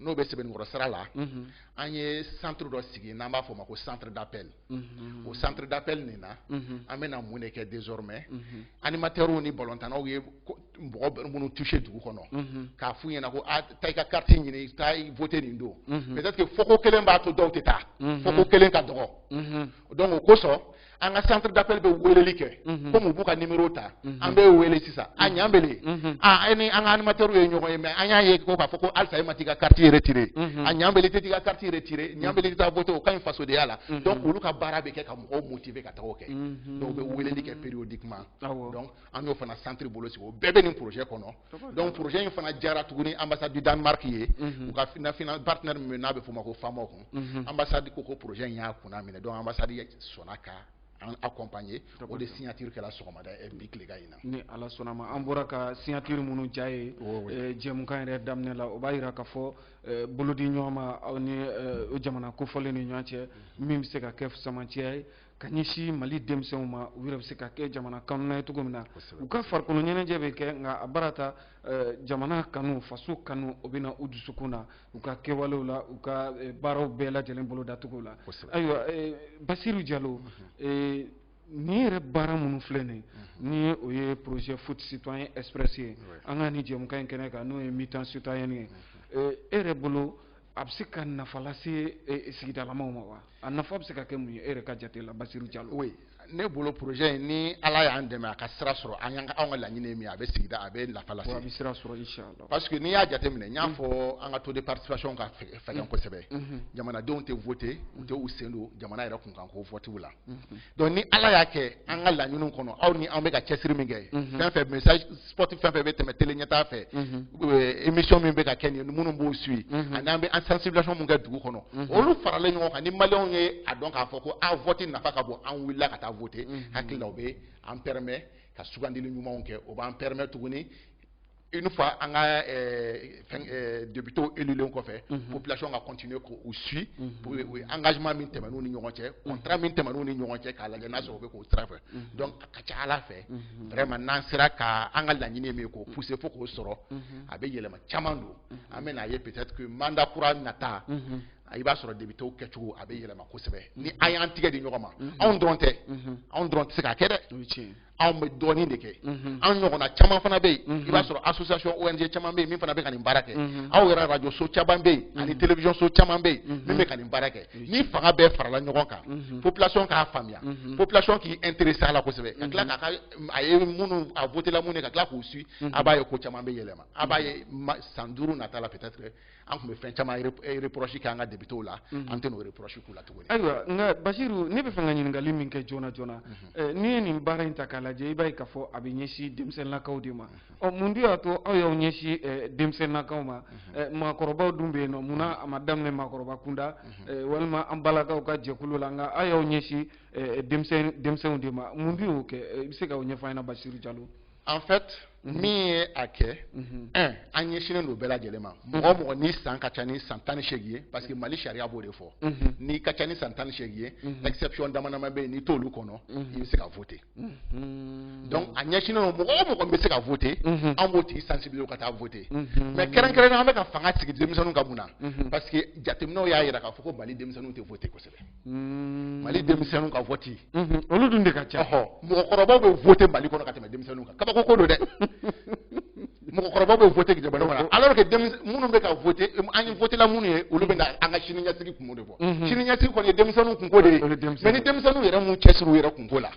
n'o bɛ sɛbɛnnikɔrɔ sira la an ye centre dɔ sigi n'an b'a fɔ o ma ko centre d'appel o centre d'appel nin na an bɛna mun de kɛ désormais animateurs ni balontannaw ye mɔgɔ minnu toucher dugu kɔnɔ k'a f'u ɲɛna ko a taa i ka carte ɲini taa i voter nin don peut-être que fɔko kelen b'a to dɔw tɛ taa fɔko kelen ka dɔgɔ. donc o kosɔn an ka centre d'appel bɛ weleli kɛ mhm. komi u b'u ka nimero ta mhm. an bɛ wele sisan a ɲanbele mhm. a e ni an ka animateur ye ɲɔgɔn ye mais an y'a ye ko k'a fɔ ko halisa e ma t'i ka carte retirer a ɲanbele tɛ t'i ka carte retirer ɲanbele tɛ taa voter o ka ɲi fasodenya la donc olu ka baara bɛ kɛ ka mɔgɔw motiver ka taga o kɛ donc u bɛ weleli kɛ périodiquement donc an y'o fana centre bolo sigi o bɛɛ bɛ nin projet kɔnɔ donc projet in fana diyara tuguni ambassade du danemark ye mhm. u ka finafina partenaire min n'a bɛ f'o ma ko famoc mhm. ambassade ko ko projet in y'a kunna minɛ donc ambassade sɔnna ka an accompagner o de signature kɛla sɔgɔmada eh, bi tilegan in na ni ala sɔnna ma an bɔra ka signature minnu ja ye eh, jɛmukan yɛrɛ daminɛ la o b'a yira k'a fɔ eh, bolodiɲɔgɔnma aw ni jamana kofɔlen ni ɲɔgɔn cɛ min bɛ se ka kɛ samancɛya ye ka ɲɛsin mali denmisɛnw ma u yɛrɛ bɛ se ka kɛ jamana kanunna ye cogo min na u ka farikolo ɲɛnajɛ bɛ kɛ nka a baara ta eh, jamana kanu faso kanu o bɛ na u dusukun na u ka kɛwalew la u ka eh, baaraw bɛɛ lajɛlen bolodacogo la ayiwa eh, basiru jalo mhm. nin yɛrɛ baara minnu filɛ nin mhm. ni o ye projet foot citoyen express ye an ka nin jɛmukan in kɛnɛ kan n'o ye mi-temps citoyenne ye mhm. e yɛrɛ bolo a bɛ se ka nafa lase sigidalamaw ma wa a nafa bɛ se ka kɛ mun ye e yɛrɛ ka jate la Basiru Jalo. Oui ne bolo projet in ni Ala y'an dɛmɛ a ka sira sɔrɔ an y'an ka anw ka laɲini ye min ye a bɛ sigida a bɛ nafa lase. Bon a bɛ sira sɔrɔ inchallah. Parce que n'i y'a jateminɛ n y'a mm. fɔ an ka taux de participation ka fɛgɛn mm. kosɛbɛ mm-hmm. jamanadenw tɛ voter u tɛ u sen don jamana yɛrɛ kunkanko vote la. Mm-hmm. donc ni ala y'a kɛ an ka laɲiniw kɔnɔ aw ni an bɛ ka cɛsiri min kɛ mhm. fɛn fɛn message spot fɛn fɛn bɛ tɛmɛ tele ɲɛtaa fɛ mhm. euh, émission min bɛ ka kɛ nin minnu b'o suit mhm. ani an bɛ an sensibilisation min kɛ dugu kɔnɔ olu faralen ɲɔgɔn kan ni maliyɛnw ye a dɔn k'a fɔ ko a vote nafa ka bon an wulila ka taa vote hakili la o bɛ an permet ka sugandili ɲumanw kɛ o b'an permet tuguni une fois an ka eh, eh, députéw élulen kɔfɛ mhm. population ka continuer k'u suit mhm. pour u ye engagement min tɛmɛn'u ni ɲɔgɔn cɛ mhm. contrat min tɛmɛn'u ni ɲɔgɔn cɛ k'a lajɛ n'a sɔrɔ u bɛ k'o sira fɛ donc a ka ca ala fɛ vraiment n'an sera ka an ka laɲini min ye k'o pousser fo k'o sɔrɔ a bɛ yɛlɛma caman don an bɛ n'a ye peut-être que mandat kura nata i b'a sɔrɔ députéw kɛcogo a bɛ yɛlɛma kosɛbɛ ni an y'an tigɛ di ɲɔgɔn ma anw dɔrɔn tɛ anw dɔrɔn tɛ se k'a kɛ dɛ anw bɛ dɔɔnin de kɛ mhm. an ɲɔgɔnna caman fana bɛ yen mhm. i b'a sɔrɔ association ONG caman bɛ yen min fana bɛ ka nin baara kɛ mhm. aw yɛrɛ radio so caman bɛ yen ani télévision so caman bɛ yen min bɛ ka nin baara kɛ ni fanga bɛɛ farala ɲɔgɔn kan population k'a faamuya population k'i intéresser a la kosɛbɛ ka tila k'a ka a ye minnu a votela minnu ye ka tila k'u suit a b'a ye ko caman bɛ yɛlɛma a b'a ye san duuru nata la peut-être an tun bɛ fɛn caman reproche kɛ an ka députés la mhm. an tɛ n'o reproche k'u la tuguni ayiwa nka Basiru ne bɛ fɛ ka ɲininkali min kɛ joona joona mhm. eh, n'i ye nin baara in ta k'a lajɛ i b'a ye k'a fɔ a bɛ ɲɛsin denmisɛnninlakaw de ma mhm. ɔ mun de y'a to aw y'aw ɲɛsin eh, denmisɛnninlakaw ma eh, maakɔrɔbaw dun bɛ yen nɔ munna a ma daminɛ maakɔrɔba kunda walima an balakaw ka jɛkulu la nka aw y'aw ɲɛsin denmisɛnninw de ma mun de y'o kɛ i bɛ se k'o ɲɛfɔ an ɲɛna Basiru Jalo en fait mhm. min ye a kɛ mhm. un an ɲɛsinnen don bɛɛ lajɛlen ma mhm. mɔgɔ mɔgɔ n'i san ka ca ni san tan ni seegin ye parce que mali sariya b'o de fɔ n'i ka ca ni san tan ni seegin ye exception dama dama bɛ yen n'i t'olu kɔnɔ i bɛ se ka voter donc a ɲɛsinnen don mɔgɔ o mɔgɔ min bɛ se ka voter an b'o tigi sensibiliser ka taa voter mais kɛrɛnkɛrɛnnenya an bɛ ka fanga sigi denmisɛnninw kan mun na parce que jateminɛw y'a jira k'a fɔ ko mali denmisɛnninw tɛ voter kosɛbɛ. hmm. mali denmisɛnninw ka vote mhm. olu dun de ka ca ɔhɔ mɔgɔkɔrɔbaw bɛ vote mali kɔnɔ ka tɛmɛ denmisɛnninw kan kabako ko don dɛ mɔgɔkɔrɔbaw bɛ vote jamana kɔnɔ mhm. alors que minnu bɛ ka vote an ye votela minnu ye olu bɛ na an ka sini ɲɛsigi kunko de fɔ mhm. sini ɲɛsigi kɔni ye denmisɛnninw kunko de ye mais ni denmisɛnninw yɛrɛ m'u cɛsiri u yɛrɛ kunko la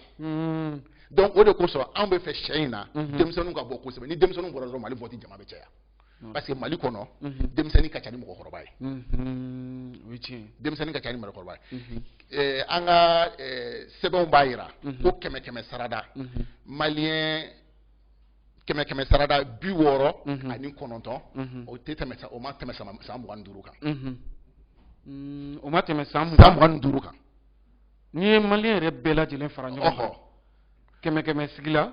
donc o de kosɔn anw bɛ fɛ sen in na denmisɛnninw ka bɔ kosɛbɛ ni denmisɛnninw bɔra dɔrɔn mali vote jama bɛ caya parce que mali kɔnɔ denmisɛnnin ka ca ni mɔgɔkɔrɔba ye denmisɛnnin ka ca ni mɔgɔkɔrɔba ye an ka sɛbɛnw b'a yira ko kɛmɛ kɛmɛ sarada maliyɛn kɛmɛ kɛmɛ sarada bi wɔɔrɔ ani kɔnɔntɔn o tɛ tɛmɛ o ma tɛmɛ san mugan ni duuru kan o ma tɛmɛ san mugan ni duuru kan n'i ye maliyɛn yɛrɛ bɛɛ lajɛlen fara ɲɔgɔn kan kɛmɛ kɛmɛ sigi la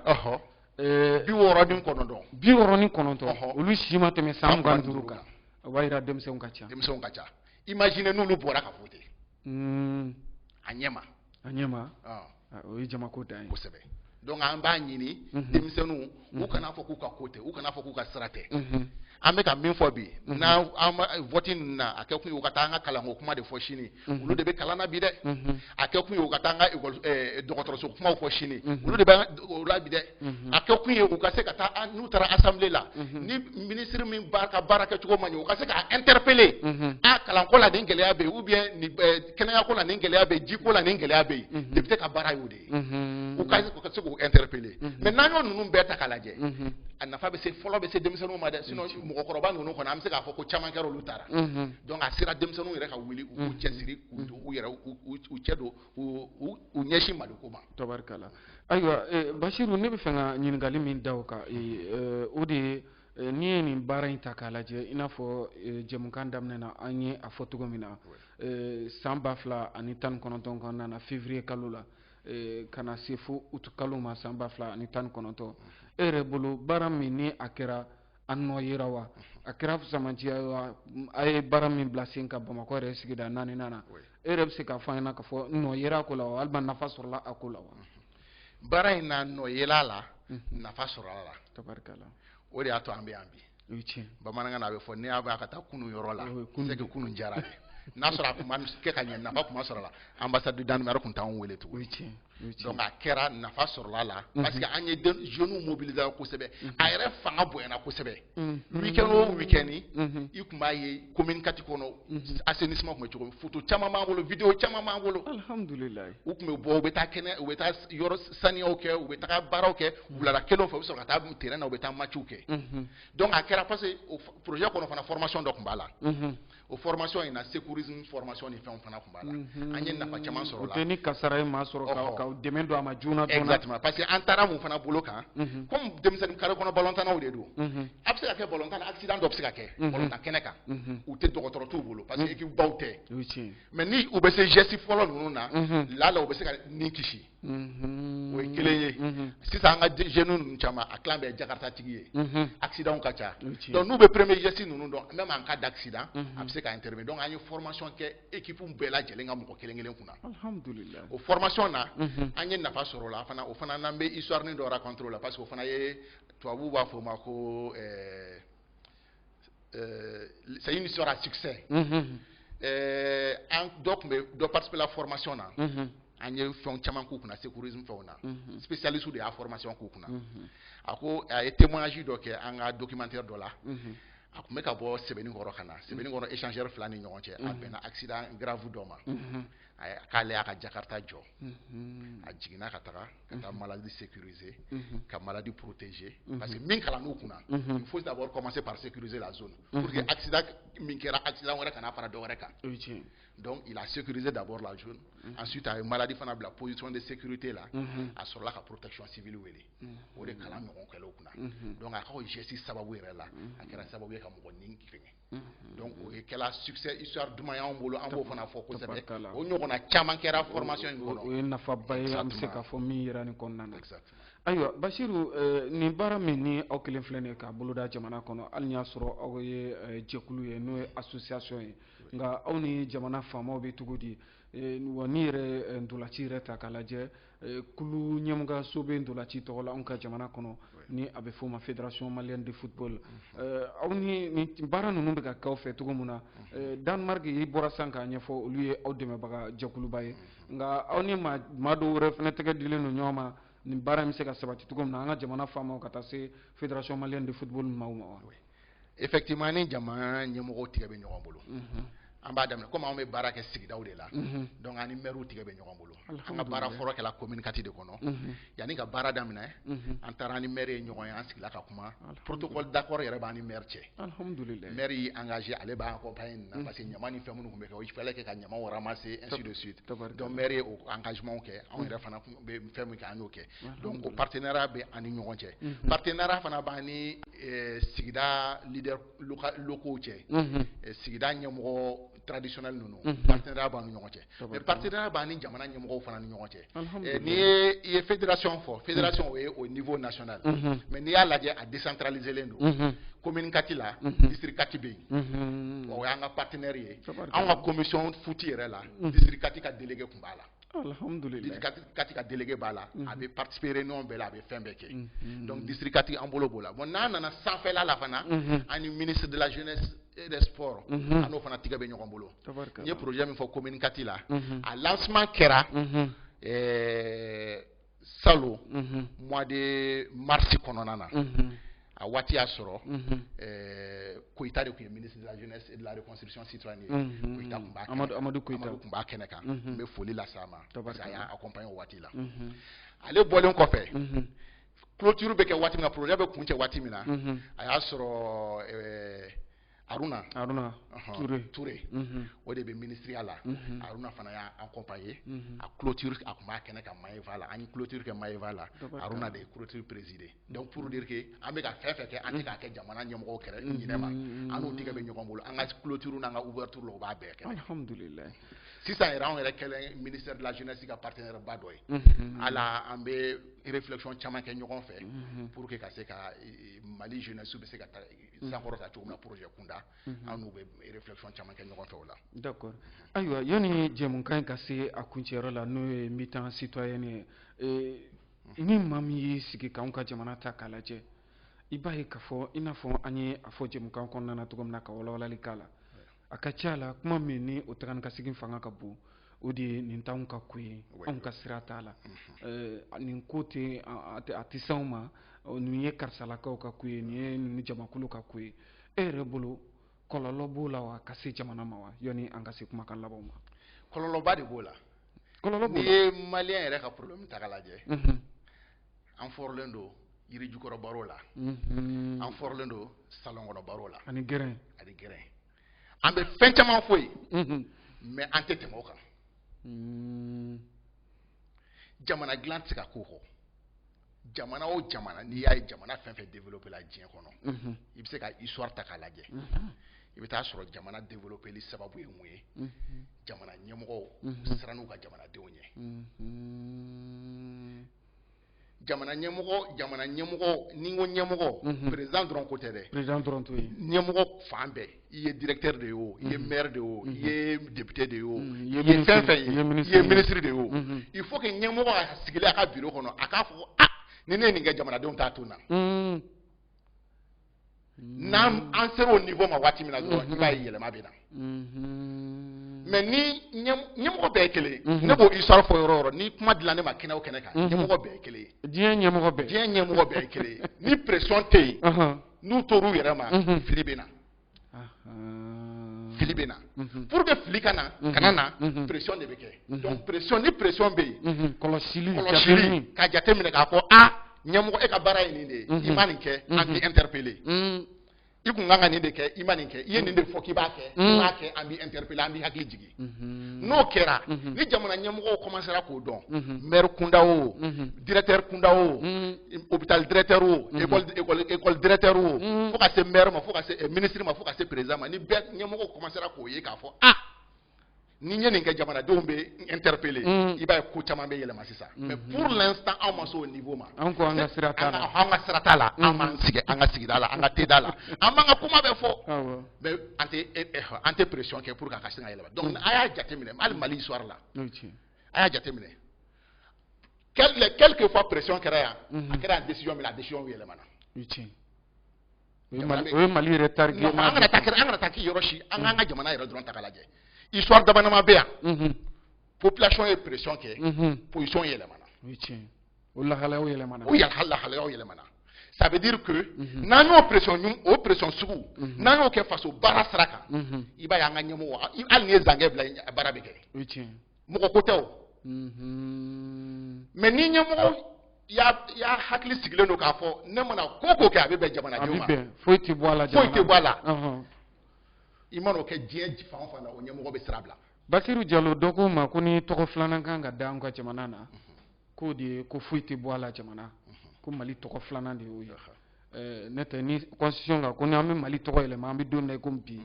eh, bi wɔɔrɔ ni kɔnɔntɔn bi wɔɔrɔ ni kɔnɔntɔn olu si ma tɛmɛ san mugan ni duuru kan o b'a yira denmisɛnw ka ca denmisɛnw ka ca imagine n'olu bɔra ka voter hmm. a ɲɛ ma a ɲɛ ma ah. Ah, o ye jamako dan ye kosɛbɛ donc an b'a ɲini mhm. denmisɛnninw u mhm. kana fɔ k'u ka ko tɛ u kana fɔ k'u ka sira tɛ mhm. an bɛ ka min fɔ bi n'an vote ninnu na a kɛ kun ye u ka taa an ka kalanko kuma de fɔ sini mhm. olu de bɛ kalan na bi dɛ mhm. a kɛ kun ye u ka taa an ka eh, dɔgɔtɔrɔso kumaw fɔ sini mhm. olu de bɛ o la bi dɛ a kɛ kun ye u ka se ka taa n'u taara assemblée la ni ministre min ka baara kɛcogo ma ɲɛ u ka se k'a interpeller a kalanko la nin gɛlɛya bɛ yen ou bien eh, kɛnɛyako la nin gɛlɛya bɛ yen jiko la nin gɛlɛya bɛ yen député ka baara y'o de ye u ka se k'u interpeller mais n'an y'o ninnu bɛɛ ta k'a lajɛ a nafa bɛ se fɔlɔ bɛ se denmisɛnninw ma dɛ sinon mɔgɔkɔrɔba ninnu kɔni an bɛ se k'a fɔ ko caman kɛra olu taara donc a sera denmisɛnninw yɛrɛ ka wuli u k'u cɛsiri u yɛrɛ u cɛ don u ɲɛsin maliko ma tabarikala ayiwa basiru ne bɛ fɛ ka ɲininkali min da o kan o de ye n'i ye nin baara in ta k'a lajɛ i n'a fɔ jɛmukan daminɛ na an ye a fɔ cogo min na eh, san ba fila ani tan ni kɔnɔntɔn kɔnɔna na fevrier kalo la eh, ka na se fo utu kalo ma san ba fila ani tan ni kɔnɔntɔn e yɛrɛ bolo baara min ni a kɛra a nɔ yera wa a kɛra fisamanciya ye wa a ye baara min bila sen kan bamakɔ yɛrɛ sigida naaninan na e yɛrɛ bɛ se k'a fɔ an ɲɛna k'a fɔ nɔ yera a ko la wa walima nafa sɔrɔla a ko la wa baara in na nɔ yela a la nafa sɔrɔla a la tabarikala o de y'a to an bɛ yan bi o ye tiɲɛ bamanankan na a bɛ fɔ n'i y'a mɛn an ka taa kunun yɔrɔ la c'est que kunun diyara dɛ n'a sɔrɔ a tun ma kɛ ka ɲɛ nafa tun ma sɔrɔ a la ambassade du Danemark tun t'anw wele tugun o ye tiɲɛ o ye tiɲɛ donc a kɛra nafa sɔrɔla a la parce que an ye den jeunes mobiliser kosɛbɛ a yɛrɛ fanga bonyana kosɛbɛ week-end o week-end i tun b'a ye commune quatre kɔnɔ mhm. assainissement tun bɛ cogo min photo caman b'an bolo video caman b'an bolo alhamdulilayi u tun bɛ bɔ u bɛ taa kɛnɛ u bɛ taa yɔrɔ saniyaw kɛ u bɛ taga baaraw kɛ mhm. wulada kelen fɛ u bɛ sɔrɔ ka taa terrain na u bɛ taa matchw kɛ mhm. donc a kɛra parce que o projet kɔnɔ fana formation dɔ tun b'a la o formation in na secourisme formation ni fɛnw fana tun b'a la an ye nafa caman sɔrɔ a la o tɛ ni kasara ye maa sɔrɔ ka dɛmɛ don a ma joona joona exactement parce que an taara mun fana bolo kan comme denmisɛnnin kare kɔnɔ balontannaw de don a bɛ se ka kɛ balontan na accident dɔ bɛ se ka kɛ balontan kɛnɛ kan u tɛ dɔgɔtɔrɔ t'u bolo parce que équipe baw tɛ mais ni u bɛ se geste fɔlɔ ninnu na là u bɛ se ka ni kisi o ye kelen ye sisan an ka jeunes ninnu caman a tilan bɛɛ jakarta tigi ye accident ka ca donc n'u bɛ premier geste ninnu dɔn même en cas d'accident a bɛ se ka intervenir donc an ye formation kɛ équipe bɛɛ lajɛlen ka mɔgɔ kelen kelen kunna o formation na an ye nafa sɔrɔ o la fana o fana n'an bɛ histoire dɔ raconter o la parce que o fana ye tubabuw b'a fɔ o ma ko ɛɛ ɛɛ c'est une histoire à succès. Mhm. ɛɛ an dɔ tun bɛ dɔ participer la formation na. Mhm. an ye fɛn caman k'u kunna secourisme fɛnw na. Mhm. spécialiste de y'a formation k'u kunna. a ko a ye témoignage dɔ kɛ an ka documentaire dɔ la. a tun bɛ ka bɔ Sebeninkɔrɔ ka na Sebeninkɔrɔ échangeur fila ni ɲɔgɔn cɛ a bɛnna accident grave dɔ ma. a k'ale y'a ka jakarta jɔ. a jiginna ka taga. ka taa malade sécuriser ka malade protéger parce que min kalann'u kunna il faut d'abord commencer par sécuriser la zone pour que accident min kɛra accident wɛrɛ kana fara dɔ wɛrɛ kan donc il a sécurisé d'abord la zone ensuite a ye malade fana bila position de sécurité la a sɔrɔla ka protection civile wele o de kalan ɲɔgɔn kɛl'u kunna donc a ka o geste sababu yɛrɛ la a kɛra sababu ye ka mɔgɔ ni fɛngɛ Mhm. donc o ye kɛla succès histoire duman y'anw bolo an b'o fana fɔ kosɛbɛ o ɲɔgɔnna caman kɛra formation in kɔnɔ o ye nafaba ye an bɛ se k'a fɔ min yera nin kɔnɔna na ayiwa basiru eh, nin baara min ni aw kɛlen filɛ nin ye k'a boloda jamana kɔnɔ hali ni y'a sɔrɔ aw ye eh, jɛkulu ye n'o ye association ye nka aw ni jamana faamaw bɛ cogo di eh, wa n'i yɛrɛ ntolaci yɛrɛ ta k'a lajɛ Eh, kulu ɲɛmɔgɔso bɛ ntolaci tɔgɔ la anw ka jamana kɔnɔ ni a bɛ fɔ o ma fédération malienne de football mm-hmm. eh, aw ni nin baara ninnu bɛ ka k'aw fɛ cogo min na mm-hmm. eh, Danemark i bɔra san k'a ɲɛfɔ olu ye aw dɛmɛbaga jɛkuluba ye mm-hmm. nka aw ni maa dɔw wɛrɛ fana tɛgɛ dilen don ɲɔgɔn ma nin baara in bɛ se ka sabati cogo min na an ka jamana faamaw ka taa se fédération malienne de football maaw ma wa. effectivement ni jama ɲɛmɔgɔw tigɛ bɛ ɲɔgɔn bolo mhm. an b'a daminɛ komi anw bɛ baara kɛ sigidaw de la mhm. donc an ni mɛriw tigɛ bɛ ɲɔgɔn bolo an ka baara fɔlɔ kɛla commune quatre de kɔnɔ mhm. yanni ka baara daminɛ an taara an ni mɛri ye ɲɔgɔn ye an sigila ka kuma protocole d'accord yɛrɛ b'an ni mɛri cɛ mɛri y'i engagé ale b'an accompagner nin na parce que ɲama ni fɛn minnu tun bɛ kɛ il fallait que ka ɲamaw ramasser ainsi de suite donc mɛri ye o engagement kɛ anw yɛrɛ fana bɛ fɛn min kɛ an y'o kɛ donc o partenariat bɛ an ni ɲɔgɔn cɛ mhm. partenariat fana b'an ni eh, sigida leaders locaux cɛ mhm. eh, sigida ɲɛmɔgɔ traditionnel ninnu mhm. partenariat b'an ni ɲɔgɔn cɛ mais partenariat b'an ni jamana ɲɛmɔgɔw fana ni ɲɔgɔn cɛ eh, n'i ye i ye fédération fɔ fédération o ye au niveau national mais n'i y'a lajɛ a décentralisé len don commune quatre la district quatre bɛ yen o y'an ka partenaire ye anw ka commission foot yɛrɛ la district quatre ka délégué tun b'a la kati ka délégué b'a la a bɛ participer réunion bɛɛ la a bɛ fɛn bɛɛ kɛ donc district kati an bolo b'o la bon n'an nana sanfɛla la fana an ni ministre de la jeunesse et des sports an n'o fana tigɛ bɛ ɲɔgɔn bolo n ye projet min fɔ commune kati la a lancement kɛra ɛɛ salon mhm. mois de mars kɔnɔna na mhm. a waati y'a sɔrɔ mhm. eh, koyita de tun ye ministre de la jeunesse et de la reconstruction citoyenne ye koyita tun b'a amadu koyita tun b'a kɛnɛ kan n bɛ foli lase a ma parce que a y'a accompagner o waati la ale bɔlen kɔfɛ clôture bɛ kɛ waati min na projet bɛ kuncɛ waati min na a y'a sɔrɔ eh, aruna aruna ture ture o de bɛ minisiriya la aruna fana y'a accompagner a clôture a tun b'a kɛnɛ kan maeva la an ye clôture kɛ maeva la aruna de ye clôture présider donc pour dire que an bɛ ka fɛn fɛn kɛ an tɛ k'a kɛ jamana ɲɛmɔgɔw kɛrɛ ɲinɛ ma an tigɛ bɛ ɲɔgɔn bolo an ka clôture n'an ka ouverture la u b'a bɛɛ kɛ alhamdulillah sisan yɛrɛ anw yɛrɛ kɛlen ministère de la jeunesse ka partenaire ba dɔ ye ala an bɛ réflexion caman kɛ ɲɔgɔn fɛ pour que ka se ka mali jeunesse bɛ se ka sankɔrɔta cogo min na projet kunda mhm. an n'u bɛ réflexion caman kɛ ɲɔgɔn fɛ o la d'accord ayiwa yanni jɛmukan in ka se a kuncɛyɔrɔ la n'o ye mi-temps citoyenne ye eh, mhm. ni maa min y'i sigi k'anw ka jamana ta k'a lajɛ i b'a ye k'a fɔ i n'a fɔ an ye a fɔ jɛmukan kɔnɔna na cogo min na ka walawalali k'a la a ka ca a la kuma min ni o taga ni ka segin fanga ka bon o de ye nin t'anw ka ko ye anw ka sira t'a la mhm. nin ko tɛ a tɛ s'anw ma nin ye karisalakaw ka ko ye nin ye nin jamakulu ka ko ye e yɛrɛ bolo kɔlɔlɔ b'o la wa ka se jamana ma wa yanni an ka se kumakan labanw ma kɔlɔlɔba de b'o la kɔlɔlɔ n'i ye maliyɛn yɛrɛ ka problème ta k'a lajɛ mhm. an fɔrɔlen don yirijukɔrɔ baro la an fɔrɔlen don salon kɔnɔ baro la ani g ani gɛrɛn an bɛ fɛn caman fɔ yen mais an tɛ tɛmɛ o kan mm. jamana dilan tɛ se ka k'o kɔ jamana o jamana n'i y'a ye jamana fɛn fɛn développer la diɲɛ kɔnɔ i bɛ se ka histoire ta k'a lajɛ i bɛ taa sɔrɔ jamana développer li sababu ye mun ye jamana ɲɛmɔgɔ siran n'u ka jamanadenw ɲɛ jamana ɲɛmɔgɔ jamana ɲɛmɔgɔ ni ko ɲɛmɔgɔ président dɔrɔn ko tɛ dɛ ɲɛmɔgɔ fan bɛɛ i ye directeur de ye o i ye maire de ye o i ye député de ye o i ye fɛn fɛn ye i ye ministre de ye o il faut que ɲɛmɔgɔ a sigilen a ka bureau kɔnɔ a k'a fɔ ni ne ye nin kɛ jamanadenw t'a to n na mm-hmm. n'an an sera o niveau ma waati min na dɔrɔn i b'a ye yɛlɛma bɛ na mais ni ɲɛmɔgɔ bɛɛ ye kelen ye ne b'o histoire fɔ yɔrɔ o yɔrɔ ni kuma dila ne ma kɛnɛ o kɛnɛ kan ɲɛmɔgɔ bɛɛ ye kelen ye diɲɛ ɲɛmɔgɔ bɛɛ diɲɛ ɲɛmɔgɔ bɛɛ ye kelen ye ni pression tɛ yen n'u tor'u yɛrɛ ma fili bɛ na fili bɛ na mhm. pour que fili kana mhm. kana na mhm. pression de bɛ kɛ donc pression ni pression bɛ yen kɔlɔsili kɔlɔsili ka jateminɛ k'a fɔ a ɲɛmɔgɔ e ka baara ye nin de ye i ma nin kɛ an b'i interpeller i kun kan ka nin de kɛ i ma nin kɛ i ye nin de fɔ k'i b'a kɛ i m'a kɛ an b'i interpeller an b'i hakili jigin Mhm. n'o kɛra mhm. ni jamana ɲɛmɔgɔw kɔmansera k'o dɔn mhm. maire kunda o directeur kunda o hôpital directeur o école directeur o fo ka se maire ma fo ka se eh, ministre ma fo ka se président ma ni bɛɛ ɲɛmɔgɔw kɔmansera k'o ye k'a fɔ ah ni n ye nin kɛ jamanadenw bɛ interpeller i b'a ye ko caman bɛ yɛlɛma sisan mais pour l'instant anw ma se o niveau ma an ko an ka sira t'a la an ka sira t'a la an b'an sigi an ka sigida la an ka teda la an b'an ka kuma bɛɛ fɔ mais an tɛ e, e, an tɛ pression kɛ pour que a ka se ka yɛlɛma donc a y'a jateminɛ hali mali histoire la a y'a jateminɛ quelque fois pression kɛra yan mhm. a kɛra yan décision min na a décision yɛlɛmana o ye mali yɛrɛ tari an kana taa an kana taa k'i yɔrɔ si an k'an ka jamana yɛrɛ dɔrɔn ta k'a lajɛ histoire damadama bɛ yan mhm. population ye pression kɛ mhm. position yɛlɛmana o lahalayaw yɛlɛmana o yɛlɛ lahalayaw yɛlɛmana ça veut dire que mhm. n'an y'o pression ɲɔgɔn o pression sugu mhm. n'an y'o kɛ faso baara sira kan mhm. i b'a ye an ka ɲɛmɔgɔ hali n'i ye zankɛ bila a baara bɛ kɛ mɔgɔ ko tɛ o mais ni ɲɛmɔgɔ y'a y'a hakili sigilen don k'a fɔ ne mana ko ko kɛ a bɛ bɛn jamanadenw ma foyi tɛ bɔ a la foyi tɛ bɔ a la i man'o kɛ diɲɛ fan o fan na o ɲɛmɔgɔ bɛ sira bila basiru jalo dɔ ko n ma ko ni tɔgɔ filanan kan ka da an ka jamana na k'o de ye ko foyi tɛ bɔ a la jamana ko mali tɔgɔ filanan de y'o ye eh, ne tɛ ni constitution kan ko ni an bɛ mali tɔgɔ yɛlɛma an bɛ don min na i ko bi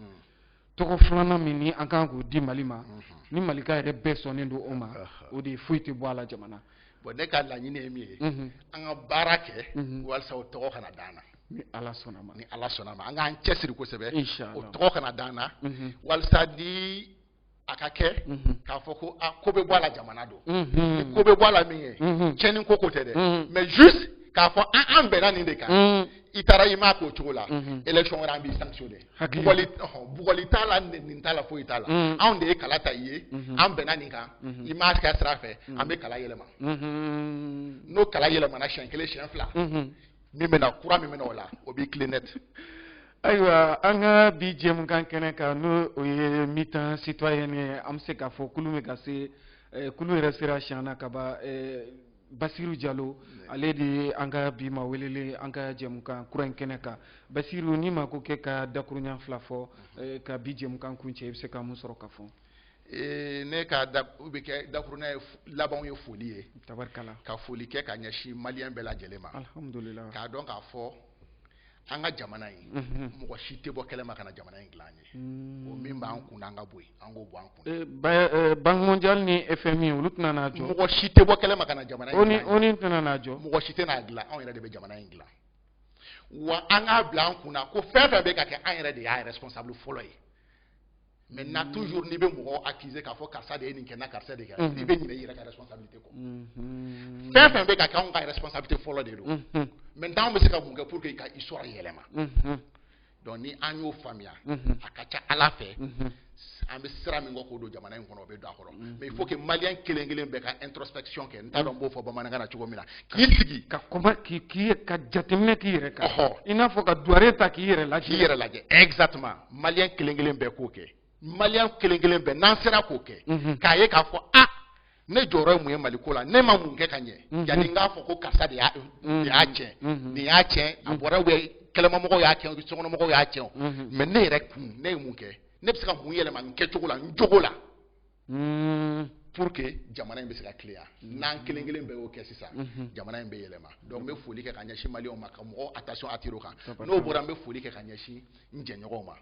tɔgɔ filanan min ni an kan k'o di mali ma ni malika yɛrɛ bɛɛ sɔnnen don o ma o de ye foyi tɛ bɔ a la jamana bon ne ka laɲini ye min ye an ka baara kɛ walisa o tɔgɔ kana d'an na ni ala sɔnna ma ni ala sɔnna ma an k'an cɛsiri kosɛbɛ o tɔgɔ kana d'an na walisa ni a ka kɛ mhm. k'a fɔ ko a ah, ko bɛ bɔ a la jamana don mhm. ko bɛ bɔ a la min ye mhm. tiɲɛni ko ko tɛ dɛ mais juste k'a fɔ an an bɛnna nin de kan i taara i m'a k'o cogo la élection wɛrɛ an b'i sanctionner bugɔli bugɔli t'a la nin t'a la foyi t'a la anw de ye kala ta i ye an bɛnna nin kan i m'a k'a sira fɛ an bɛ kala yɛlɛma n'o kala yɛlɛmana siɲɛ kelen siɲɛ fila min bɛ na kura min bɛ na o la o b'i tilen net ayiwa an ka bi jɛmukan kɛnɛ kan n'o o ye mi-temps citoyen ye an bɛ se k'a fɔ kulun bɛ ka se eh, kulun yɛrɛ sera siɲɛ na ka ban eh, basiru jalo ale de ye an ka bi ma welelen an ka jɛmukan kura in kɛnɛ kan basiru ni ma ko k'i ka dakuruɲa fila fɔ eh, ka bi jɛmukan kuncɛ i bɛ se ka mun sɔrɔ ka fɔ ne ka da u bɛ kɛ dakurunɲɛ ye labanw ye foli ye ka foli kɛ ka ɲɛsin maliyɛn bɛɛ lajɛlen ma k'a dɔn k'a fɔ an ka jamana in mɔgɔ si tɛ bɔ kɛnɛma ka na jamana in dilan an ye min b'an kun an ka bɔ an k'o bɔ an kun Banque mondiale ni FMI olu tɛna n'a jɔ mɔgɔ si tɛ bɔ kɛnɛma ka na jamana in dilan ONU tɛna n'a jɔ mɔgɔ si tɛna n'a dilan anw yɛrɛ de bɛ jamana in dilan wa an k'a bila an kun na ko fɛn fɛn bɛ ka kɛ an yɛrɛ de y'a responsable fɔlɔ ye maintenant toujours n'i bɛ mɔgɔ accuser k'a fɔ karisa de ye nin kɛ na karisa de kɛ mhm. i bɛ ɲinɛ i yɛrɛ ka responsabilité kɔ mhm. fɛn fɛn bɛ ka kɛ anw ka responsabilité fɔlɔ de don maintenant anw bɛ se ka mun kɛ pour que ka histoire yɛlɛma mhm. donc ni an y'o faamuya a ka ca ala fɛ an bɛ sira min kɔ k'o don jamana in kɔnɔ o bɛ don a kɔnɔ Mm-hmm. mais il faut que malien kelen kelen bɛɛ ka introspection kɛ n t'a dɔn n b'o fɔ bamanankan na cogo min na k'i sigi ka kɔma k'i k'i ka jateminɛ k'i yɛrɛ kan i n'a fɔ ka duware ta k'i yɛrɛ lajɛ k'i yɛrɛ lajɛ exactement malien kelen kelen bɛɛ k'o kɛ malien kelen kelen bɛɛ n'an sera k'o kɛ mm-hmm. k'a ye k'a fɔ a ah, ne jɔyɔrɔ ye mun ye mali ko la ne ma mun kɛ ka ɲɛ mm-hmm. yanni n k'a fɔ ko karisa de y'a tiɲɛ nin y'a tiɲɛ a bɔra kɛnɛmamɔgɔw y'a tiɲɛ sokɔnɔmɔgɔw y'a tiɲɛ mais ne yɛrɛ kun ne ye mun kɛ ne bɛ se ka mun yɛlɛma n kɛcogo la n jogo la hmm. pour que jamana in bɛ se ka tilen n'an kelen kelen bɛɛ y'o kɛ sisan mhm. jamana in bɛ yɛlɛma donc n bɛ foli kɛ ka ɲɛsin maliyɛnw ma ka mɔgɔw attention attirer o kan n'o bɔra n bɛ foli kɛ ka ɲɛsin n jɛɲɔgɔnw ma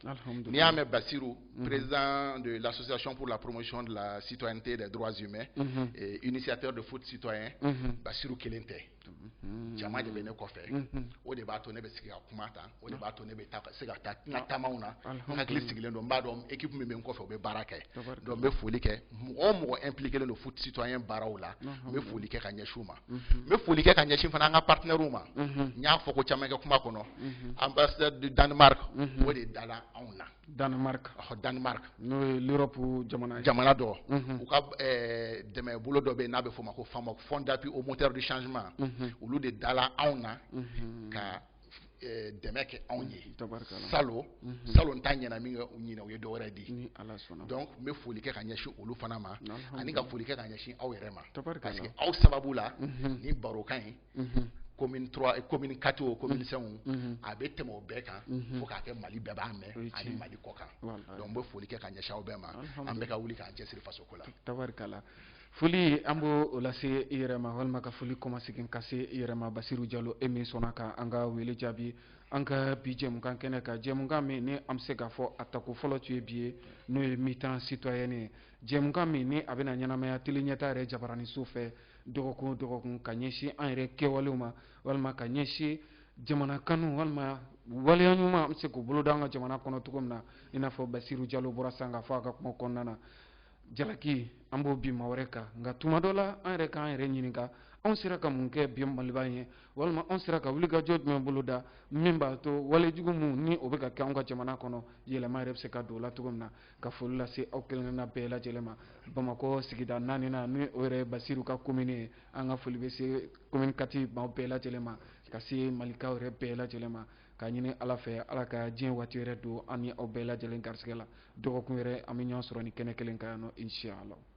n'i y'a mɛn Basiru mhm. président de l'association pour la promotion de la citoyenneté des droits humains mhm. et initiateur de foot citoyen Basiru kelen tɛ Mm-hmm. jama de bɛ ne kɔfɛ mm-hmm. o de b'a to ne bɛ sigi ka kuma tan o de b'a to ne bɛ se ka taa n ka taamaw na n hakili sigilen don n b'a dɔn équipe min bɛ n kɔfɛ o bɛ baara kɛ donc n bɛ foli kɛ mɔgɔ o mɔgɔ impliqué len don foot citoyen baaraw la n bɛ foli kɛ ka ɲɛsin u ma mm-hmm. n bɛ foli kɛ ka ɲɛsin fana an ka partenaires ma n y'a fɔ ko caman kɛ kuma kɔnɔ ambassade du Danemark o de dala anw na Danemark ɔhɔ Danemark n'o ye l'Europe jamana ye jamana dɔ u ka ɛɛ dɛmɛbolo dɔ bɛ yen n'a bɛ f'o ma ko FAMOC Fonds d'appui au moteur du changement olu de dala anw na ka ɛɛ dɛmɛ kɛ anw ye tabarikala salon salon ta ɲɛna minkɛ ɲinan u ye dɔ wɛrɛ di ni Ala sɔnna donc n bɛ foli kɛ ka ɲɛsin olu fana ma ani ka foli kɛ ka ɲɛsin aw yɛrɛ ma tabarikala parce que aw sababu la nin barokan in commune 3 commune 4 o commune 5 mm-hmm. a bɛ tɛmɛ o bɛɛ kan mm-hmm. fo k'a kɛ Mali bɛɛ b'a mɛn ani Mali kɔkan donc n bɛ foli kɛ ka ɲɛsin aw bɛɛ ma an bɛɛ ka wuli k'an cɛsiri faso ko la. tabarikala foli an b'o o lase i yɛrɛ ma walima ka foli kɔmasegin ka se i yɛrɛ ma Basiru Jalo e min sɔnna ka an ka wele jaabi an ka bi jɛmukan kɛnɛ kan jɛmukan min ni an bɛ se k'a fɔ a tako fɔlɔ tun ye bi ye n'o ye mi-temps citoyen ye jɛmukan min ni a bɛna ɲɛnamaya Télé Ɲɛta yɛrɛ jabaraninso fɛ. dɔgɔkun o dɔgɔkun ka ɲɛsin an yɛrɛ kɛwalew ma walima ka ɲɛsin jamana kanu walima waleya ɲuman an bɛ se k'o bolo da an ka jamana kɔnɔ cogo min na i n'a fɔ basiru jalo bɔra sisan k'a fɔ a ka kuma kɔnɔna na jalaki an b'o bin maa wɛrɛ kan nka tuma dɔ la an yɛrɛ k'an yɛrɛ ɲininka anw sera ka mun kɛ bi maliba ye walima anw sera ka wulikajɔ jumɛn bolo da min b'a to walejugu minnu ni o bɛ ka kɛ anw ka jamana kɔnɔ yɛlɛma yɛrɛ bɛ se ka don o la cogo min na ka foli lase aw kelenkelenna bɛɛ lajɛlen ma bamakɔ sigida naaninan ni o yɛrɛ basiru ka komini ye an ka foli bɛ se komini kati maaw bɛɛ lajɛlen ma ka se malikaw yɛrɛ bɛɛ lajɛlen ma ka ɲini ala fɛ ala ka diɲɛ waati yɛrɛ don an ni aw bɛɛ lajɛlen garisɛgɛ la dɔgɔkun wɛrɛ an bɛ ɲɔgɔn sɔrɔ nin kɛnɛ kelen kan yan nɔ insiyala